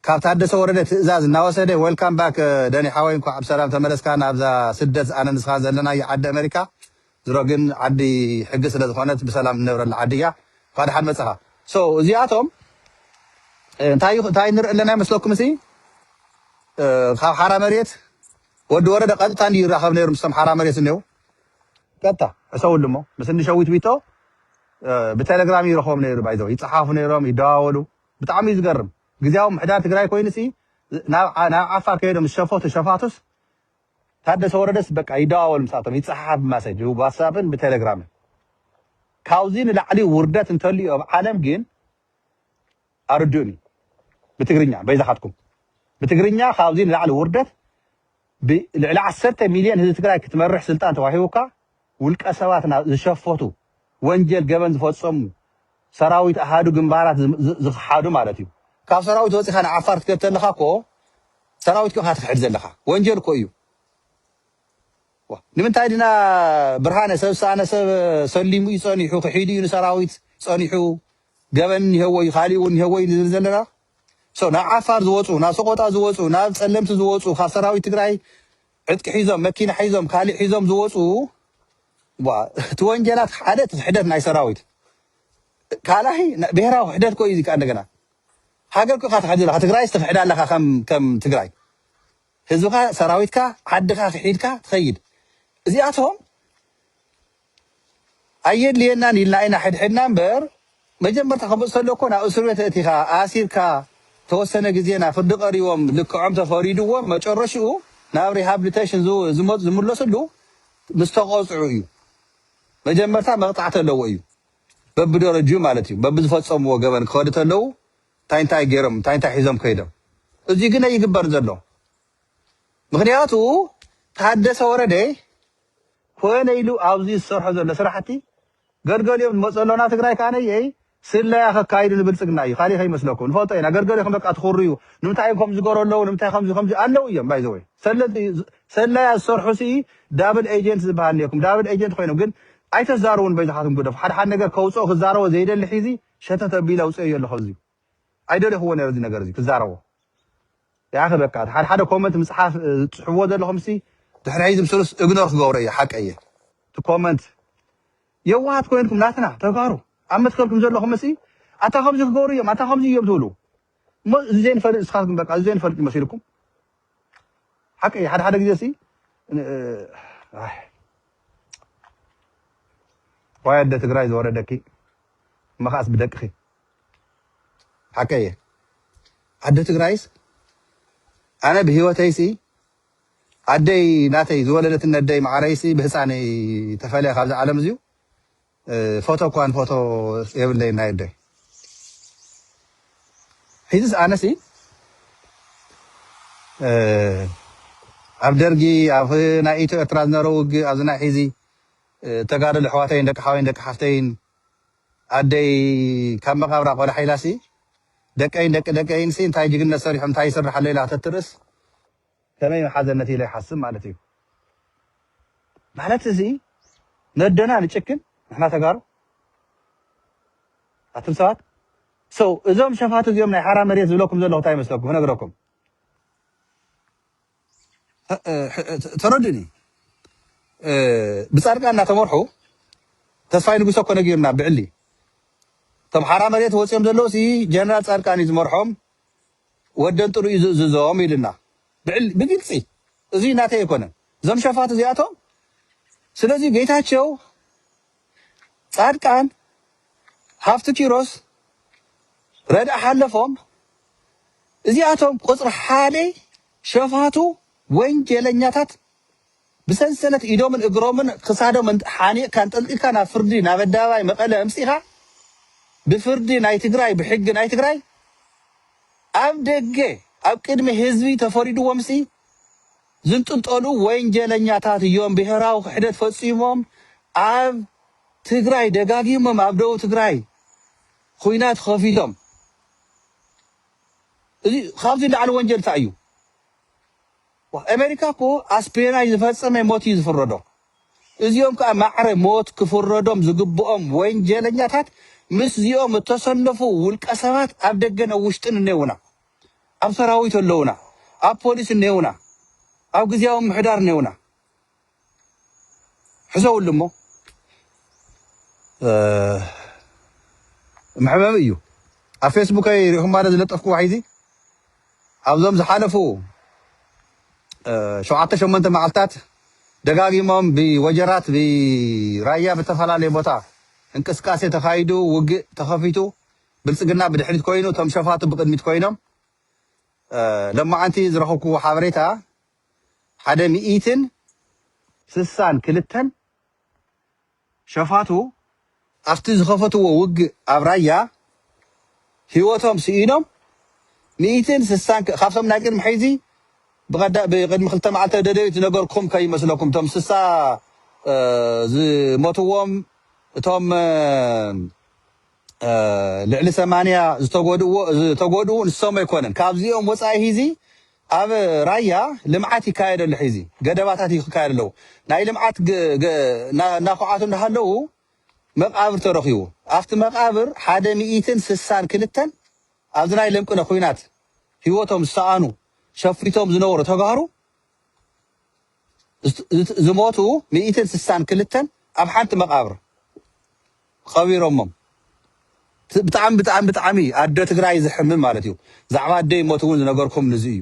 Speaker 1: ካብ ታደሰ ወረደ ትእዛዝ እናወሰደ Welcome back ደኒ ሓወይ እንኳዕ ብሰላም ተመለስካ ናብዛ ስደት ኣነን ንስኻን ዘለናዮ ዓዲ ኣመሪካ ዝሮ ግን ዓዲ ሕጊ ስለ ዝኾነት ብሰላም ንነብረላ ዓዲ እያ እንኳዕ ደሓን መፃኻ so እዚኣቶም እንታይ እንታይ ንርኢ ኣለና ይመስለኩም ሲ ካብ ሓራ መሬት ወዲ ወረደ ቀጥታ እንዲዩ ይራኸብ ነይሩ ምስቶም ሓራ መሬት ዝኔው ቀጥታ ሕሰብሉ እሞ ምስ እኒ ሸዊት ዊቶ ብቴሌግራም እዩ ይረኽቦም ነይሩ ባይ ዘወይ ይፀሓፉ ነይሮም ይደዋወሉ ብጣዕሚ እዩ ዝገርም ግዜያዊ ምሕዳር ትግራይ ኮይኑ ሲ ናብ ዓ- ናብ ዓፋር ከይዶም ምስ ሸፈቱ ሸፋቱስ ታደሰ ወረደስ በቃ ይደዋወሉ ምሳቶም ይፀሓሓፍ ብማሰጅ ብዋትሳፕን ብቴሌግራምን ካብዚ ንላዕሊ ውርደት እንተልዩ ኣብ ዓለም ግን ኣርድኡኒ ብትግርኛ በይዛኻትኩም ብትግርኛ ካብዚ ንላዕሊ ውርደት ብልዕሊ ዓሰርተ ሚልዮን ህዝቢ ትግራይ ክትመርሕ ስልጣን ተዋሂቡካ ውልቀ ሰባት ናብ ዝሸፈቱ ወንጀል ገበን ዝፈፀሙ ሰራዊት ኣሃዱ ግንባራት ዝኽሓዱ ማለት እዩ ካብ ሰራዊት ወፂኻ ንዓፋር ትከድ ተለኻ እኮ ሰራዊትኩ ኢኻ ትኽሕድ ዘለኻ ወንጀል እኮ እዩ ንምንታይ ድና ብርሃነ ሰብ ዝሰኣነ ሰብ ሰሊሙ እዩ ፀኒሑ ክሒዱ እዩ ንሰራዊት ፀኒሑ ገበን እኒሀዎ እዩ ካሊእ እውን እኒሀዎ እዩ ንዝብል ዘለና So ናብ ዓፋር ዝወጹ ናብ ሰቆጣ ዝወጹ ናብ ጸለምቲ ዝወጹ ካብ ሰራዊት ትግራይ ዕጥቂ ሒዞም መኪና ሒዞም ካሊእ ሒዞም ዝወጹ ዋ እቲ ወንጀላት ሓደ እቲ ክሕደት ናይ ሰራዊት ካልኣይ ና- ብሄራዊ ክሕደት ኮ እዩ እዚ ከዓ እንደገና ሃገር ኮ ኢካ ትሕድ ዘለካ ትግራይስ ትክሕድ ኣለካ ከም ከም ትግራይ ህዝብካ ሰራዊትካ ዓድካ ክሒድካ ትኸይድ እዚኣቶም ኣየድልየናን ኢልና ኢና ሕድሕድና እምበር መጀመርታ ክመጽእ ተሎ እኮ ናብ እስርቤት ኣእቲኻ ኣሲርካ ተወሰነ ግዜ ናብ ፍርዲ ቀሪቦም ልክዖም ተፈሪድዎም መጨረሽኡ ናብ ሪሃብሊቴሽን ዝመጹ ዝምለስሉ ምስ ተቐጽዑ እዩ። መጀመርታ መቕጻዕቲ ኣለዎ እዩ በብደረጅኡ ማለት እዩ በብዝፈጸምዎ ገበን ክኸዱ ተለው እንታይ እንታይ ገይሮም እንታይ እንታይ ሒዞም ከይዶም እዚ ግን ኣይግበርን ዘሎ ምክንያቱ ታደሰ ወረደ ኮነ ኢሉ ኣብዚ ዝሰርሖ ዘሎ ስራሕቲ ገርገሊኦም ንመፆ ኣሎና ትግራይ ካኣ ነየይ ስለያ ከካይዱ ንብልፅግና እዩ ካሊእ ከይመስለኩም ንፈልጦ ኢና ገርገሊኹም በቃ ትኹርዩ ንምንታይ እዮም ከምዚ ዝገሩ ኣለው ንምንታይ ከምዚ ከምዚ ኣለው እዮም ባይ ዘወይ ሰለያ ዝሰርሑ ሲ ዳብል ኤጀንት ዝበሃል ነይኩም ዳብል ኤጀንት ኮይኖም ግን ኣይተዛርቡን በይዛኻትኩም ግደፉ ሓድሓድ ነገር ከውፅኦ ክዛረቦ ዘይደሊ ሒዚ ሸተት ኣቢለ ኣውፅኤዮ ኣለኹ ኣዚዩ ኣይደለኹዎን ነይረ እዚ ነገር እዚ ክዛረቦ ያኸ በቃ ሓደ ሓደ ኮመንት ምጽሓፍ ዝጽሕፍዎ ዘለኹም ሲ ድሕሪ ሕዚ ምስሉስ እግኖር ክገብሮ እየ ሓቀይ እየ እቲ ኮመንት የዋሃት ኮይንኩም ናትና ተጋሩ ኣብ መትከልኩም ዘለኹም ሲ ኣታ ከምዚ ክገብሩ እዮም ኣታ ከምዚ እዮም ትብሉ እሞ እዚ ዘይንፈልጥ ንስኻትኩም በቃ እዚ ዘይንፈልጥ እዩ መሲልኩም ሓቂ እዩ ሓደ ሓደ ግዜ ሲ ኣሕ ዋይ ኣደ ትግራይ ዝወረደኪ እሞ ከዓስ ብደቅኺ ሓቂ እየ ኣደ ትግራይስ ኣነ ብሂወተይሲ ኣደይ ናተይ ዝወለደትኒ ኣደይ መዓረይሲ ብህፃነይ ተፈልያ ካብዚ ዓለም እዚዩ ፎቶ እኳ ንፎቶ የብለይን ናይ ኣደይ ሒዝስ ኣነሲ ኣብ ደርጊ ኣብ ናይ ኢትዮ ኤርትራ ዝነበረ ውግእ ኣብዚ ናይ ሒዚ ተጋደሉ ኣሕዋተይን ደቂ ሓወይን ደቂ ሓፍተይን ኣደይ ካብ መቃብራ ቆላሕ ኢላሲ ደቀይን ደቂ ደቀይንሲ እንታይ ጅግነት ሰሪሖም እንታይ ይስራሕ ኣሎ ኢላ ከተትርእስ ከመይ ምሓዘነት ኢለ ይሓስብ ማለት እዩ ማለት እዚ ነደና ንጭክን ንሕና ተጋሩ ኣቱም ሰባት so እዞም ሸፋቱ እዚኦም ናይ ሓራ መሬት ዝብለኩም ዘለኹ እንታይ ይመስለኩም ክነግረኩም ተረዱኒ ብፃድቃን እናተመርሑ ተስፋይ ንጉሰ እኮ ነጊርና ብዕሊ እቶም ሓራ መሬት ወፂኦም ዘለዉ ጀነራል ፃድቃን እዩ ዝመርሖም ወደን ጥሩ እዩ ዝእዝዞም ኢሉና ብግልፂ እዙይ ናተይ ኣይኮነን እዞም ሸፋቱ እዚኣቶም ስለዚ ጌታቸው ፃድቃን ሃፍቲ ኪሮስ ረድእ ሓለፎም እዚኣቶም ቁፅሪ ሓደ ሸፋቱ ወንጀለኛታት ብሰንሰለት ኢዶምን እግሮምን ክሳዶም ሓኒቕካ ኣንጠልጢልካ ናብ ፍርዲ ናብ ኣደባባይ መቐለ ኣምጺእኻ ብፍርዲ ናይ ትግራይ ብሕጊ ናይ ትግራይ ኣብ ደገ ኣብ ቅድሚ ህዝቢ ተፈሪድዎምሲ ዝንጥልጠሉ ወንጀለኛታት እዮም። ብሄራዊ ክሕደት ፈጺሞም ኣብ ትግራይ ደጋጊሞም ኣብ ደቡብ ትግራይ ኹናት ከፊቶም እዚ ካብዚ ላዕሊ ወንጀል እንታይ እዩ? ኣሜሪካ እኮ ኣስፒዮናጅ ዝፈጸመ ሞት እዩ ዝፍረዶ። እዚኦም ከኣ ማዕረ ሞት ክፍረዶም ዝግብኦም ወንጀለኛታት ምስዚኦም እተሰለፉ ውልቀሰባት ኣብ ደገን ኣብ ውሽጥን እኔውና። ኣብ ሰራዊት ኣለዉና፣ ኣብ ፖሊስ እኔውና፣ ኣብ ግዝያዊ ምምሕዳር እኔውና። ሕዘውሉ እሞ መሕበቢ እዩ ኣብ ፌስቡከይ ሪኢኹም ባዶ ዝለጠፍኩዎ ሒዚ ኣብዞም ዝሓለፉ ሸውዓተ ሸሞንተ መዓልትታት ደጋጊሞም ብወጀራት ብራያ ብተፈላለየ ቦታ እንቅስቃሴ ተኻይዱ ውግእ ተኸፊቱ ብልፅግና ብድሕሪት ኮይኑ እቶም ሸፋቱ ብቅድሚት ኮይኖም ለማዓንቲ ዝረኸብኩዎ ሓበሬታ ሓደ ሚኢትን ስሳን ክልተን ሸፋቱ ኣብቲ ዝኸፈትዎ ውግእ ኣብ ራያ ህይወቶም ስኢኖም ሚኢትን ስሳን ካብቶም ናይ ቅድሚ ሕዚ ብቀዳ ብቅድሚ ክልተ መዓልቲ ደደቢት ዝነገርኩም ከይመስለኩም እቶም ስሳ ዝሞትዎም እቶም ልዕሊ ሰማንያ ዝተጎድእዎ ዝተጎድኡ ንሶም ኣይኮነን ካብዚኦም ወፃኢ ሂዚ ኣብ ራያ ልምዓት ይካየድ ኣሎ ሒዚ ገደባታት ይካየድ ኣለዉ ናይ ልምዓት እናኳዓቱ እንዳሃለዉ መቃብር ተረኪቡ ኣብቲ መቃብር ሓደ ሚኢትን ስሳን ክልተን ኣብዚ ናይ ለምቅነ ኩናት ህይወቶም ዝሰኣኑ ሸፊቶም ዝነበሩ ተጋሩ ዝሞቱ ሚእትን ስሳን ክልተን ኣብ ሓንቲ መቃብር ቐቢሮሞም ብጣዕሚ ብጣዕሚ ብጣዕሚ ኣዶ ትግራይ ዝሕምም ማለት እዩ ዛዕባ ኣደይ ሞት እውን ዝነገርኩም ንዚ እዩ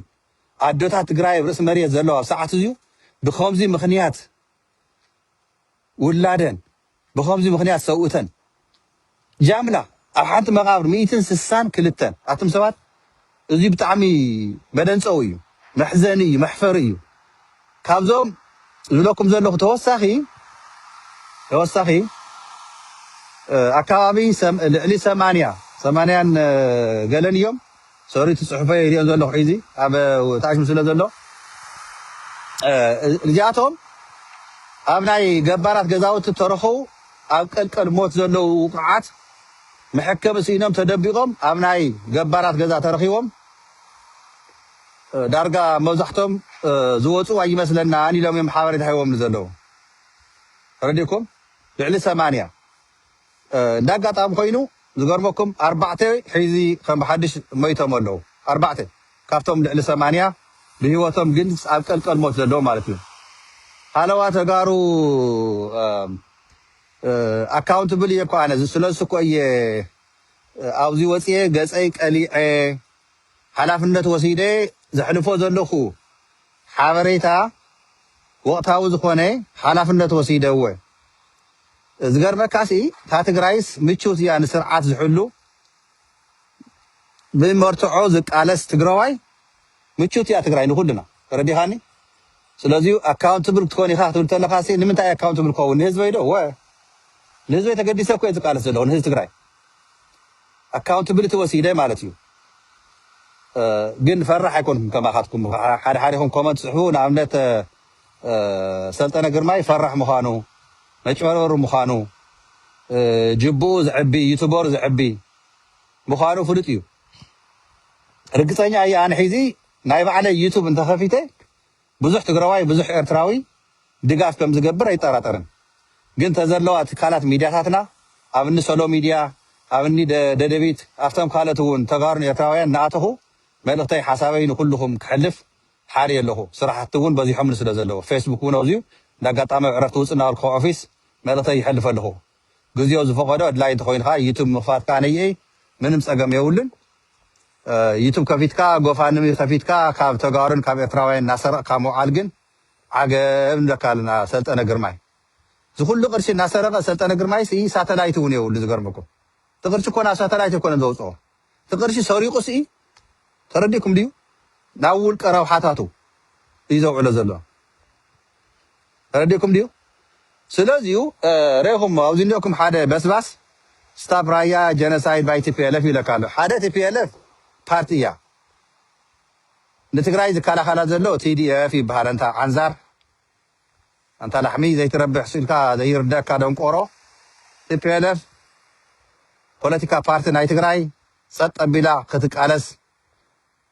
Speaker 1: ኣዶታት ትግራይ ኣብ ርእሲ መሬት ዘለዋ ኣብ ሰዓት እዚዩ ብከምዚ ምክንያት ውላደን ብኸምዚ ምኽንያት ሰውእተን ጃምላ ኣብ ሓንቲ መቓብር ሚእትን ስሳን ክልተን ኣቱም ሰባት እዙይ ብጣዕሚ መደንጸዊ እዩ መሕዘኒ እዩ መሕፈሪ እዩ ካብዞም ዝብለኩም ዘለኹ ተወሳኺ ተወሳኺ ኣካባቢ ልዕሊ ሰማንያ ሰማንያን ገለን እዮም ሶሪ እቲ ጽሑፈይ ኣይሪኦን ዘለኹ ሒዚ ኣብ ታሽም ስለ ዘሎ እዚኣቶም ኣብ ናይ ገባራት ገዛውቲ ተረኸቡ ኣብ ቀልቀል ሞት ዘለዉ ውቁዓት መሕከሚ ስኢኖም ተደቢቆም ኣብ ናይ ገባራት ገዛ ተረኺቦም ዳርጋ መብዛሕቶም ዝወፁ ኣይመስለናን ኢሎም እዮም ሓበሬታ ሂቦምኒ ዘለዉ ተረዲእኩም ልዕሊ ሰማንያ እንደ ኣጋጣሚ ኮይኑ ዝገርመኩም ኣርባዕተ ሕዚ ከም ብሓድሽ ሞይቶም ኣለዉ ኣርባዕተ ካብቶም ልዕሊ ሰማንያ ብሂወቶም ግን ኣብ ቀልቀል ሞት ዘለዉ ማለት እዩ ሃለዋ ተጋሩ ኣካውንትብል እየ እኮ ኣነ ስለሱ እኮ እየ ኣብዚ ወፅየ ገፀይ ቀሊዐ ሓላፍነት ወሲደ ዘሕልፎ ዘለኹ ሓበሬታ ወቕታዊ ዝኾነ ሓላፍነት ወሲደ እወ ዝገርመካሲ እታ ትግራይስ ምችውቲ እያ ንስርዓት ዝሕሉ ብመርትዖ ዝቃለስ ትግረዋይ ምችውቲ እያ ትግራይ ንኩልና ተረዲኻኒ ስለዚ ኣካውንትብል ክትኮን ኢኻ ክትብል ተለኻሲ ንምንታይ ኣካውንትብል ክኸውን ንህዝበይ ዶ ወ ንህዝበይ ተገዲሰ እኮ እየ ዝቃለስ ዘለኹ ንህዝቢ ትግራይ ኣካውንትብልቲ ወሲደ ማለት እዩ ግን ፈራሕ ኣይኮንኩም ከማኻትኩም ሓደ ሓዲኹም ኮመንት ፅሕፉ ንኣብነት ሰልጠነ ግርማይ ፈራሕ ምዃኑ መጭበርበሪ ምዃኑ ጅብኡ ዘዕቢ ዩቱበር ዘዕቢ ምዃኑ ፍሉጥ እዩ ርግፀኛ እየ ኣነ ሒዚ ናይ ባዕለይ ዩቱብ እንተኸፊተ ብዙሕ ትግራዋይ ብዙሕ ኤርትራዊ ድጋፍ ከም ዝገብር ኣይጠራጠርን ግን ተዘለዋ ትካላት ሚድያታትና ኣብ እኒ ሰሎ ሚድያ ኣብ እኒ ደደቢት ኣብቶም ካልኦት እውን ተጋሩን ኤርትራውያን ንኣተኹ መልእኽተይ ሓሳበይ ንኩልኹም ክሕልፍ ሓርየ ኣለኹ ስራሕቲ እውን በዚሖምኒ ስለ ዘለዉ ፌስቡክ እውን ኣብዚዩ እንዳ ኣጋጣሚ ኣብ ዕረፍቲ ውፅእ እናበልኩ ካብ ኦፊስ መልእኽተይ ይሐልፍ ኣለኹ ግዚኦ ዝፈቐዶ ኣድላይ እንተኾይኑ ከዓ ዩቱብ ምኽፋት ከዓ ነይእይ ምንም ፀገም የውልን ዩቱብ ከፊትካ ጎፋንሚ ከፊትካ ካብ ተጋሩን ካብ ኤርትራውያን እናሰረቕካ ምውዓል ግን ዓገብ ንብለካ ኣለና ሰልጠነ ግርማይ ዝኹሉ ቅርሺ እናሰረቐ ሰልጠነ ግርማይስ እይ ሳተላይት እውን የውሉ ዝገርመኩም እቲ ቅርሺ እኮ ናብ ሳተላይት ኣይኮነን ዘውፅኦ እቲ ቅርሺ ሰሪቁ ስኢ ተረዲኩም ድዩ ናብ ውልቀ ረብሓታቱ እዩ ዘውዕሎ ዘሎ ተረዲኩም ድዩ ስለዚ እዩ ሬኹሞ ኣብዚ እንዲኩም ሓደ በስባስ ስታፕ ራያ ጀነሳይድ ባይ ቲፒኤልኤፍ ይብለካ ኣሎ ሓደ ቲፒኤልኤፍ ፓርቲ እያ ንትግራይ ዝከላኸላ ዘሎ ቲዲኤፍ ይበሃል ኣንታ ዓንዛር ኣንታ ላሕሚ ዘይትረብሕ ስኢንካ ዘይርደኣካ ደንቆሮ tplf ፖለቲካ ፓርቲ ናይ ትግራይ ጸጥ ኣቢላ ክትቃለስ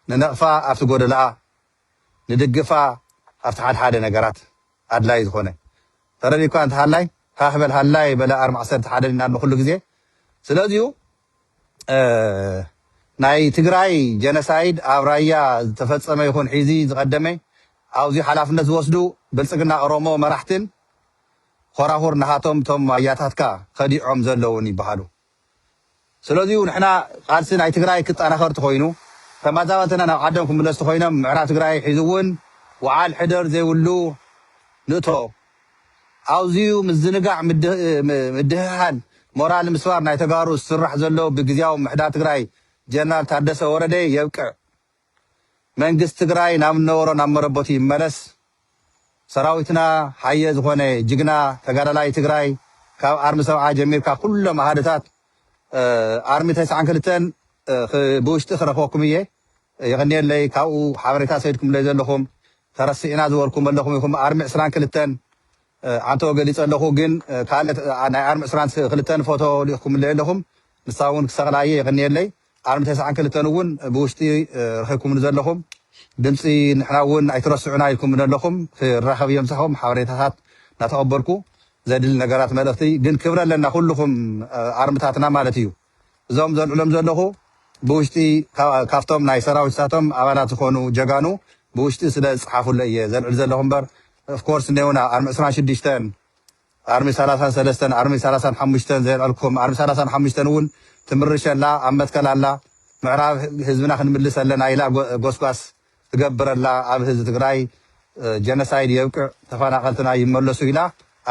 Speaker 1: ንነቅፋ ኣብቲ ጎደለኣ ንድግፋ ኣብቲ ሓደ ሓደ ነገራት ኣድላይ ዝኮነ ተረዲእካ እንተሃላይ ሃህ በል ሃላይ በለ ኣርም ዓሰርተ ሓደ ኢና ንኩሉ ግዜ ስለዚዩ ናይ ትግራይ ጀነሳይድ ኣብ ራያ ዝተፈፀመ ይኹን ሒዚ ዝቐደመ ኣብዙይ ሓላፍነት ዝወስዱ ብልፅግና ኦሮሞ መራሕትን ኾራኹር ናሃቶም እቶም ኣያታትካ ኸዲዖም ዘለውን ይባሃሉ ስለዙይ ንሕና ቓልሲ ናይ ትግራይ ክጣናኸር ተኾይኑ ተማዛበልትና ናብ ዓዶም ክምለሱ ተኾይኖም ምዕራብ ትግራይ ሒዙውን ውዓል ሕደር ዘይብሉ ንእቶ ኣውዚዩ ምዝንጋዕ ምድህሃል ሞራል ምስባር ናይ ተጋሩ ዝስራሕ ዘሎ ብግዝያዊ ምምሕዳር ትግራይ ጀነራል ታደሰ ወረደ የብቅዕ መንግስት ትግራይ ናብ ነበሮ ናብ መረበቱ ይመለስ ሰራዊትና ሃየ ዝኮነ ጅግና ተጋዳላይ ትግራይ ካብ ኣርሚ ሰብዓ ጀሚርካ ኩሎም ኣሃድታት ኣርሚ ተስዓን ክልተን ብውሽጢ ክረክበኩም እየ የቀንየለይ ካብኡ ሓበሬታ ሰድኩምለይ ዘለኩም ተረሲዕና ዝበልኩም ኣለኹም ኢኹም ኣርሚ ዕስራን ክልተን ዓንተቦ ገሊጸ ኣለኹ ግን ካልእ ናይ ኣርሚ ዕስራን ክልተን ፎቶ ልኢኽኩምለይ ኣለኹም ንሳ እውን ክሰቕላ እየ የቕንየለይ ኣርሚ ተስዓን ክልተን እውን ብውሽጢ ረኺብኩምኒ ዘለኹም ድምፂ ንሕና እውን ኣይትረስዑና ኢልኩምኒ ኣለኹም ክራኸብ እየ ምሳኹም ሓበሬታታት እናተቐበልኩ ዘድሊ ነገራት መልእኽቲ ግን ክብረ ኣለና ኩልኹም ኣርምታትና ማለት እዩ እዞም ዘልዕሎም ዘለኹ ብውሽጢ ካብቶም ናይ ሰራዊትታቶም ኣባላት ዝኾኑ ጀጋኑ ብውሽጢ ስለ ዝጸሓፉለይ እየ ዘልዕል ዘለኹ እምበር of course እኔውና ኣርሚ ዕስራን ሽዱሽተን ኣርሚ ሰላሳን ሰለስተን ኣርሚ ሰላሳን ሓሙሽተን ዘየልዐልኩም ኣርሚ ሰላሳን ሓሙሽተን እውን ትምርሽ ኣላ ኣብ መትከል ኣላ ምዕራብ ህዝብና ክንምልስ ኣለና ኢላ ጎስጓስ ትገብር ኣላ ኣብ ህዝቢ ትግራይ ጀነሳይድ የብቅዕ ተፈናቐልትና ይመለሱ ኢላ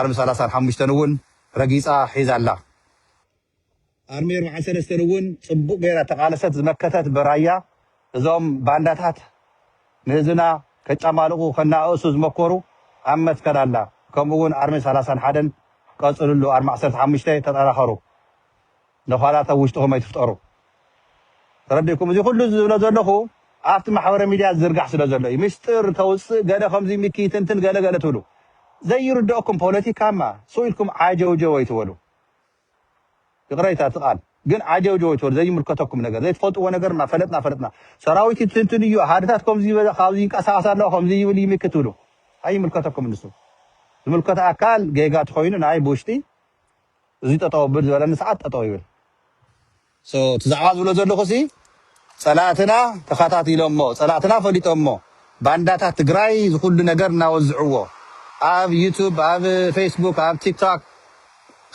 Speaker 1: ኣርሚ ሰላሳን ሓሙሽተን እውን ረጊጻ ሒዛ ኣላ ኣርሚ ኣርብዓ ሰለስተን እውን ፅቡቕ ገይራ ተቓለሰት ዝመከተት በራያ እዞም ባንዳታት ንህዝብና ከጫማልቑ ከናኣእሱ ዝመኮሩ ኣብ መትከል ኣላ ከምኡ እውን ኣርሚ ሰላሳን ሓደን ቀፅልሉ ኣርሚ ዓሰርተ ሓሙሽተ ተጠናኸሩ ንዃላት ኣብ ውሽጥኹም ኣይትፍጠሩ ተረዲእኩም እዚ ኩሉ ዝብሎ ዘለኹ ኣብቲ ማሕበረ ሚድያ ዝዝርጋሕ ስለ ዘሎ እዩ ምስጢር ተውፅእ ገለ ከምዚ ሚኪ ይትንትን ገለ ገለ ትብሉ ዘይርደኦኩም ፖለቲካማ ስኡ ኢልኩም ዓጀውጀው ኣይትበሉ ይቅረይታ እቲ ቃል ግን ዓጀውጀወት በሉ ዘይምልከተኩም ነገር ዘይትፈልጥዎ ነገር እና ፈለጥና ፈለጥና ሰራዊት ይትንትን እዩ ኣሃድታት ከምዚ ይበዛ ካብዚ ይንቀሳቀስ ኣለዋ ከምዚ ይብል ይሚ ክትብሉ ኣይምልከተኩም ንሱ ዝምልከት ኣካል ጌጋ ተኮይኑ ናይ ብውሽጢ እዚ ጠጠው ብል ዝበለኒ ሰዓት ጠጠው ይብል So እቲ ዛዕባ ዝብሎ ዘለኹ ሲ ፀላእትና ተኻታቲሎሞ ፀላእትና ፈሊጦሞ ባንዳታት ትግራይ ዝኹሉ ነገር እናወዝዕዎ ኣብ ዩቱብ ኣብ ፌስቡክ ኣብ ቲክቶክ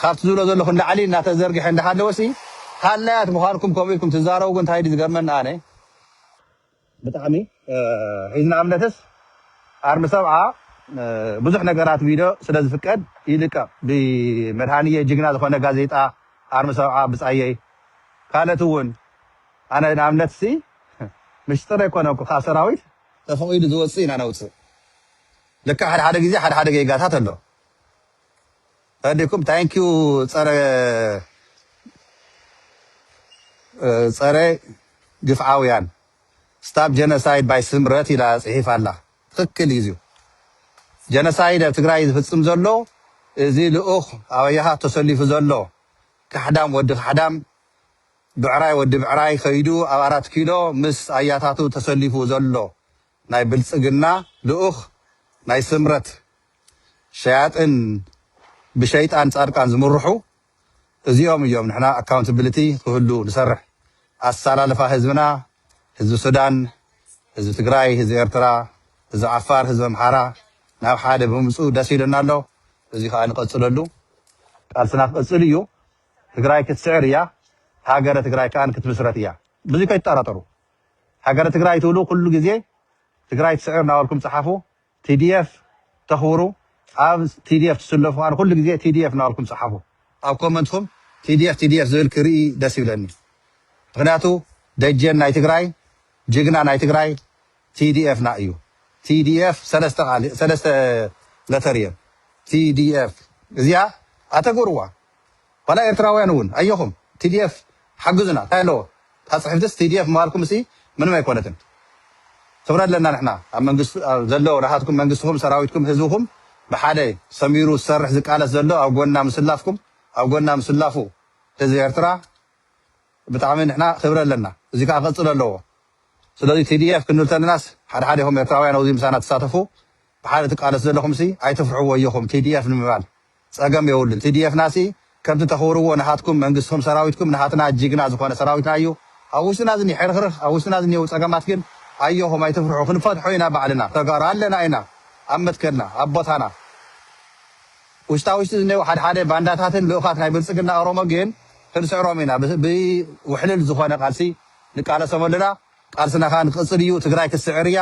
Speaker 1: ካብቲ ዝብሎ ዘለኹ ንላዕሊ እናተዘርግሐ እንዳሃለወ ሲ ሃላያት ምዃንኩም ከምኡ ኢልኩም ትዛረቡ እንታይ ድዩ ዝገርመኒ ኣነ ብጣዕሚ ሒዝና እምነትስ ኣርሚ ሰብዓ ብዙሕ ነገራት ቪድዮ ስለ ዝፍቀድ ይልቀቅ ብመድሃንየ ጅግና ዝኮነ ጋዜጣ ኣርሚ ሰብዓ ብጻየይ ካለት ውን ኣነ ንኣብነት ሲ ምሽጥር ኣይኮነኩ ካብ ሰራዊት ተፈቂዱ ዝወጽእ ኢና ነውጽእ ልክዕ ሓድሓደ ግዜ ሓድሓደ ጌጋታት ኣሎ። ፈዲኩም ታንክ ዩ ፀረ ፀረ ግፍዓውያን ስታፕ ጀነሳይድ ባይ ስምረት ኢላ ፅሒፋ ኣላ ትክክል እዩ እዚዩ ጀነሳይድ ኣብ ትግራይ ዝፍፅም ዘሎ እዚ ልኡክ ኣብያሃ ተሰሊፉ ዘሎ ካሕዳም ወዲ ካሕዳም ብዕራይ ወዲ ብዕራይ ከይዱ ኣብ ኣራት ኪሎ ምስ ኣያታቱ ተሰሊፉ ዘሎ ናይ ብልፅግና ልኡኽ ናይ ስምረት ሸያጥን ብሸይጣን ፃድቃን ዝምርሑ እዚኦም እዮም ንሕና ኣካውንትብልቲ ክህሉ ንሰርሕ ኣሳላልፋ ህዝብና ህዝቢ ሱዳን ህዝቢ ትግራይ ህዝቢ ኤርትራ ህዝቢ ዓፋር ህዝቢ ኣምሓራ ናብ ሓደ ብምምፅኡ ደስ ኢሉና ኣሎ እዚ ከዓ ንቀፅለሉ ቃልስና ክቅፅል እዩ ትግራይ ክትስዕር እያ ሃገረ ትግራይ ከዓ ክትምስረት እያ ብዙይ ከይትጠራጠሩ ሃገረ ትግራይ ትብሉ ኩሉ ግዜ ትግራይ ትስዕር ናበልኩም ጸሓፉ TDF ተኽብሩ ኣብ TDF ትስለፉ ኣነ ኩሉ ግዜ TDF ናበልኩም ጸሓፉ ኣብ ኮመንትኩም TDF TDF ዝብል ክርኢ ደስ ይብለኒ ምኽንያቱ ደጀን ናይ ትግራይ ጅግና ናይ ትግራይ TDF ና እዩ TDF ሰለስተ ቃል ሰለስተ ለተር እየን TDF እዚኣ ኣተግብርዋ ዋላ ኤርትራውያን እውን ኣዮኹም TDF ሓግዙና ታይ ኣለዎ እታ ጽሕፍትስ TDF ምባልኩምሲ ምንም ኣይኮነትን ክብረት ኣለና ንሕና ኣብ መንግስቲ ኣብ ዘሎ ናታትኩም መንግስትኹም ሰራዊትኩም ህዝብኹም ብሓደ ሰሚሩ ዝሰርሕ ዝቃለስ ዘሎ ኣብ ጎንና ምስላፍኩም ኣብ ጎንና ምስላፉ ህዝቢ ኤርትራ ብጣዕሚ ንሕና ክብሪ ኣለና እዚ ከኣ ክቅጽል ኣለዎ ስለዚ TDF ክንብል ተለናስ ሓድሓዴኹም ኤርትራውያን ኣብዚ ምሳና ትሳተፉ ብሓደ ትቃለሱ ዘለኹምሲ ኣይትፍርሑ ወዮኹም TDF ንምባል ጸገም የብሉን TDF ና ሲ ከምቲ ተኽብርዎ ናሃትኩም መንግስትኹም ሰራዊትኩም ናሃትና ጂግና ዝኾነ ሰራዊትና እዩ ኣብ ውሽጥና ዝኒሀ ሕርኽርኽ ኣብ ውሽጥና ዝኒሀው ጸገማት ግን ኣዮኹም ኣይትፍርሑ ክንፈትሖ ኢና ባዕልና ተጋሩ ኣለና ኢና ኣብ መትከልና ኣብ ቦታና ውሽጣ ውሽጢ ዝኒሀው ሓድ ሓደ ባንዳታትን ልኡኻት ናይ ብልጽግና ኦሮሞ ግን ክንስዕሮም ኢና ብ ውሕልል ዝኾነ ቃልሲ ንቃለሶም ኣለና ቃልስና ካኣ ክቅጽል እዩ ትግራይ ክትስዕር እያ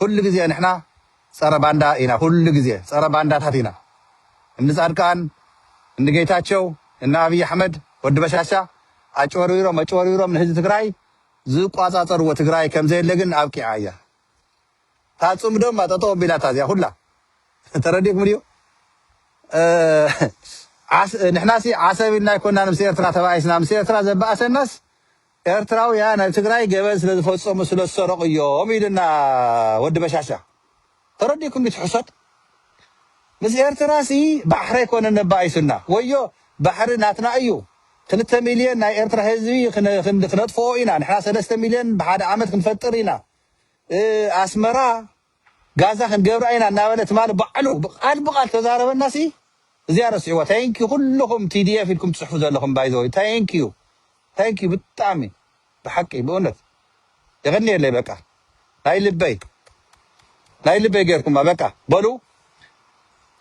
Speaker 1: ኩሉ ግዜ ንሕና ጸረ ባንዳ ኢና ኩሉ ግዜ ጸረ ባንዳታት ኢና እኒ ጻድቃን እኒ ጌታቸው እኒ ኣብይ ኣሕመድ ወዲ በሻሻ ኣጭበርቢሮም ኣጭበርቢሮም ንህዝቢ ትግራይ ዝቋጻጸርዎ ትግራይ ከምዘየለ ግን ኣብቂዓ እያ እታ ጽምዶማ ጠጠው ኣቢላታ እዚኣ ኩላ ተረዲእኩም ድዩ ንሕናሲ ዓሰብ ኢልና ኣይኮናን ምስ ኤርትራ ተባኢስና ምስ ኤርትራ ዘበኣሰናስ ኤርትራውያን ኣብ ትግራይ ገበን ስለ ዝፈጸሙ ስለ ዝሰረቁ እዮም ኢሉና ወዲ በሻሻ ተረዲእኩም ድዩ እቲ ሕሶት ምስ ኤርትራሲ ባሕሪ ኣይኮነን ነባኢሱና ወዮ ባሕሪ ናትና እዩ ክልተ ሚልዮን ናይ ኤርትራ ህዝቢ ክነጥፍኦ ኢና ንሕና ሰለስተ ሚልዮን ብሓደ ዓመት ክንፈጥር ኢና ኣስመራ ጋዛ ክንገብራ ኢና እናበለ ትማሊ ባዕሉ ቃል ብቃል ተዛረበና ሲ እዚኣ ረስዕዋ ታንክ ዩ ኩሉኩም ቲዲኤፍ ኢልኩም ትጽሕፉ ዘለኩም ባይ ዘ ወይ ታንክ ዩ ታንክ ዩ ብጣዕሚ ብሓቂ ብእውነት የቀንየለይ በቃ ናይ ልበይ ናይ ልበይ ገርኩማ በቃ በሉ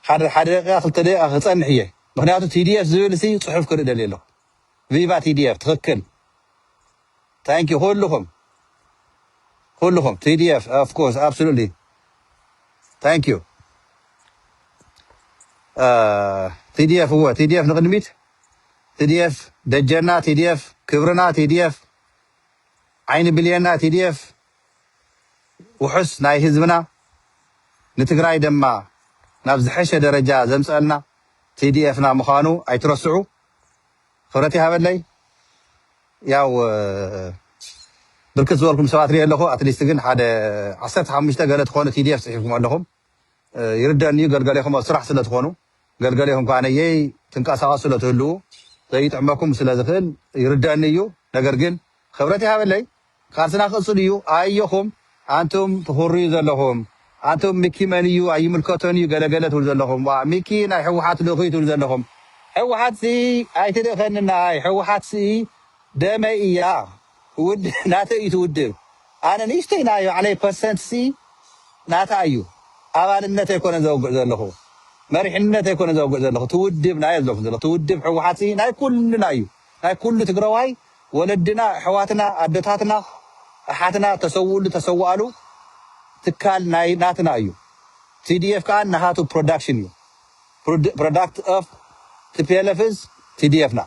Speaker 1: ሓደ ሓደ ደቂቃ ክልተ ደቂቃ ክጸንሕ እየ ምክንያቱ ቲዲኤፍ ዝብል ሲ ጽሑፍ ክርኢ ደልየ ኣለኩ ቪቫ ቲዲኤፍ ትክክል ታንኪ ኩሉኩም ኩሉኩም ቲዲኤፍ ኦፍ ኮርስ ኣብሶሉትሊ ታንኪዩ ቲዲኤፍ እወ ቲዲኤፍ ንቅድሚት ቲዲኤፍ ደጀና ቲዲኤፍ ክብርና ቲዲኤፍ ዓይኒ ብልየና ቲዲኤፍ ውሑስ ናይ ህዝብና ንትግራይ ድማ ናብ ዝሐሸ ደረጃ ዘምፀአልና ቲዲኤፍና ምዃኑ ኣይትረስዑ። ክብረት ይሃበለይ ያው ብርክት ዝበልኩም ሰባት ሪኤ ኣለኹ ኣትሊስት ግን ሓደ ዓሰርተ ሓሙሽተ ገለ ትኾኑ ቲዲኤፍ ፅሒፍኩም ኣለኹም ይርደኒ እዩ ገልገሌኹም ኣብ ስራሕ ስለትኾኑ ገልገሌኹም ከዓ ነየይ ትንቀሳቀሱ ስለትህልዉ ዘይጥዕመኩም ስለዝኽእል ይርደኒ እዩ ነገር ግን ክብረት ይሃበለይ ቃልስና ክቅጽል እዩ ኣየኹም ኣንቱም ትኹርዩ ዘለኹም ኣንቱም ሚኪ መን እዩ ኣይምልከቶን እዩ ገለ ገለ ትብሉ ዘለኹም ዋእ ሚኪ ናይ ሕውሓት ልኡኽ እዩ ትብሉ ዘለኹም ሕውሓት ሲ ኣይትልእኸኒ ነኣይ ሕውሓት ሲ ደመይ እያ ውድ ናተይ እዩ እቲ ውድብ ኣነ ንእሽተይ ናይ ባዕለይ ፐርሰንት ሲ ናታ እዩ ኣባልነት ኣይኮነን ዘውግዕ ዘለኹ መሪሕነት ኣይኮነን ዘውግዕ ዘለኹ እቲ ውድብ ናዮ ዘለኹ ዘለኹ እቲ ውድብ ሕውሓት ሲ ናይ ኩልና እዩ ናይ ኩሉ ትግረዋይ ወለድና ኣሕዋትና ኣደታትና ኣሓትና ተሰውእሉ ተሰዋኣሉ ትካል ናይ ናትና እዩ tdf ከኣ ናሃቱ ፕሮዳክሽን እዩ ፕሮዳክት ኦፍ tplf is tdf ና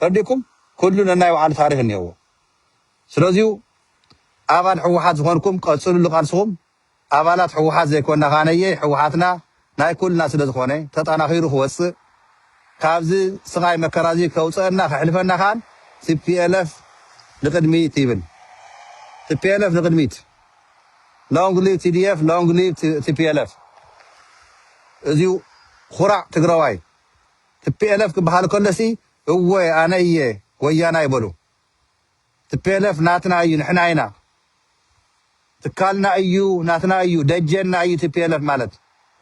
Speaker 1: ረዲኩም ኩሉ ነናይ ባዓሉ ታሪክ እኒሀዎ ስለዚዩ ኣባል ሕዋሓት ዝኮንኩም ቀፅሉሉ ቃልስኩም። ኣባላት ህወሓት ዘይኮና ከኣ ነየይ ህወሓትና ናይ ኩልና ስለ ዝኾነ ተጠናኺሩ ክወጽእ ካብዚ ስቓይ መከራ እዚ ከውጸእና ከሕልፈና ከኣ ቲፒኤልኤፍ ንቕድሚት ይብል ቲፒኤልኤፍ ንቕድሚት ሎንግ ሊቭ ቲዲኤፍ ሎንግ ሊቭ ቲፒኤልኤፍ እዚዩ ኹራዕ ትግራዋይ ቲፒኤልኤፍ ክበሃል ከሎሲ እወ ኣነ እየ ወያናይ በሉ Tplf ናትና እዩ ንሕና ኢና ትካልና እዩ ናትና እዩ ደጀንና እዩ Tplf ማለት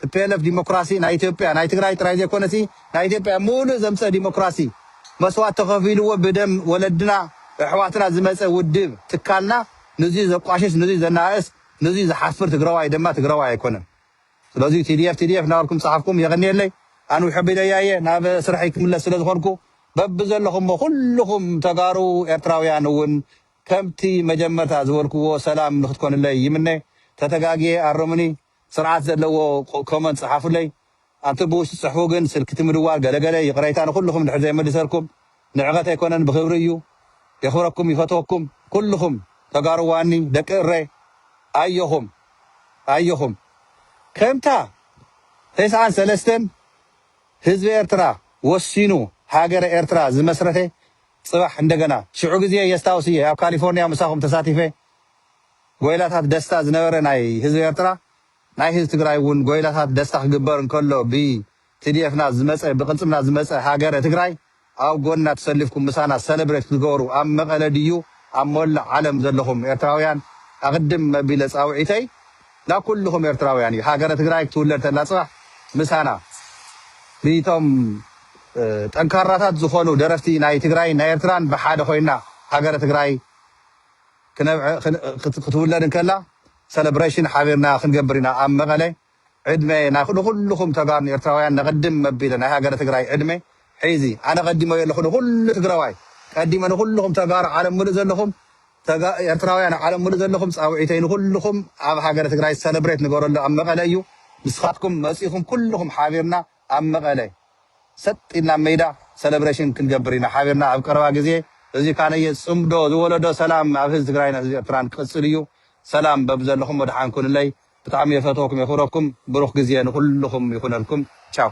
Speaker 1: Tplf ዲሞክራሲ ናይ ኢትዮጵያ ናይ ትግራይ ጥራይ ዘይኮነሲ ናይ ኢትዮጵያ ሙሉእ ዘምጸ ዲሞክራሲ መስዋት ተኸፊልዎ ብደም ወለድና እሕዋትና ዝመጸ ውድብ ትካልና ንዙይ ዘቋሽሽ ንዙይ ዘናኣእስ ንዙይ ዝሓፍር ትግራዋይ ደማ ትግራዋይ ኣይኮነን ስለዚ tdf tdf እናበልኩም ዝጸሓፍኩም የቐንየለይ። ኣንዊሖ ኣቢለያ እየ ናብ ስርሐይ ክምለስ ስለ ዝኾንኩ። በብዘለኹሞ ኩሉኹም ተጋሩ ኤርትራውያን እውን ከምቲ መጀመርታ ዝበልኩዎ ሰላም ንክትኮኑለይ ይምነ። ተተጋግየ ኣርሙኒ። ስርዓት ዘለዎ comment ጽሓፉለይ። ኣንቱም ብውሽጢ ጽሕፉ ግን ስልኪ እቲ ምድዋል ገለ ገለ ይቕረይታ ንኹሉኹም እንድሕር ዘይመሊሰርኩም። ንዕቀት ኣይኮነን ብክብሪ እዩ የክብረኩም ይፈትወኩም ኩሉኩም ተጋሩዋኒ ደቂ እረይ ኣዮኹም ኣዮኹም ከምታ ተስዓን ሰለስተን ህዝቢ ኤርትራ ወሲኑ ሃገረ ኤርትራ ዝመስረተ ጽባሕ እንደገና ሽዑ ግዜ የስታውስ እየ ኣብ ካሊፎርንያ ምሳኹም ተሳቲፈ ጎይላታት ደስታ ዝነበረ ናይ ህዝቢ ኤርትራ ናይ ህዝቢ ትግራይ እውን ጎይላታት ደስታ ክግበር እንከሎ ብ Tdf ና ዝመጸ ብቅልጽምና ዝመጸ ሃገረ ትግራይ ኣብ ጎንና ተሰሊፍኩም ምሳና ሰለብሬት ክትገበሩ ኣብ መቀለ ድዩ ኣብ ሞላእ ዓለም ዘለኹም ኤርትራውያን ኣቅድም መቢለ ጻውዒተይ ናብ ኩልኹም ኤርትራውያን እዩ ሃገረ ትግራይ ክትውለድ ተላ ጽባሕ ምሳና ብቶም ጠንካራታት ዝኾኑ ደረፍቲ ናይ ትግራይን ናይ ኤርትራን ብሓደ ኮይና ሃገረ ትግራይ ክትውለድ እንከላ ሰለብሬሽን ሓቢርና ክንገብር ኢና ኣብ መቀለ ዕድመ ንኹሉኹም ተጋሩን ኤርትራውያን ነቐድም መቢለ ናይ ሃገረ ትግራይ ዕድመ ሒዚ ኣነ ቀዲመዮ ኣለኹ ንኹሉ ትግረዋይ ቀዲመ ንኹሉኹም ተጋሩ ዓለም ምሉእ ዘለኹም ኤርትራውያን ዓለም ምሉእ ዘለኹም ጻውዒተይ ንኹሉኹም ኣብ ሃገረ ትግራይ ሰለብሬት ንገረሉ ኣብ መቐለ እዩ ንስኻትኩም መጺኹም ኩሉኹም ሓቢርና ኣብ መቐለ ሰጥ ኢልና መይዳ ሰለብሬሽን ክንገብር ኢና ሓቢርና ኣብ ቀረባ ግዜ እዚ ካነየ ጽምዶ ዝወለዶ ሰላም ኣብ ህዝቢ ትግራይን ህዝቢ ኤርትራን ክቅጽል እዩ ሰላም በብዘለኹም ወደሓን ኩኑለይ ብጣዕሚ የፈትወኩም የክብረኩም ብሩክ ግዜ ንኩልኩም ይኩነልኩም ቻው።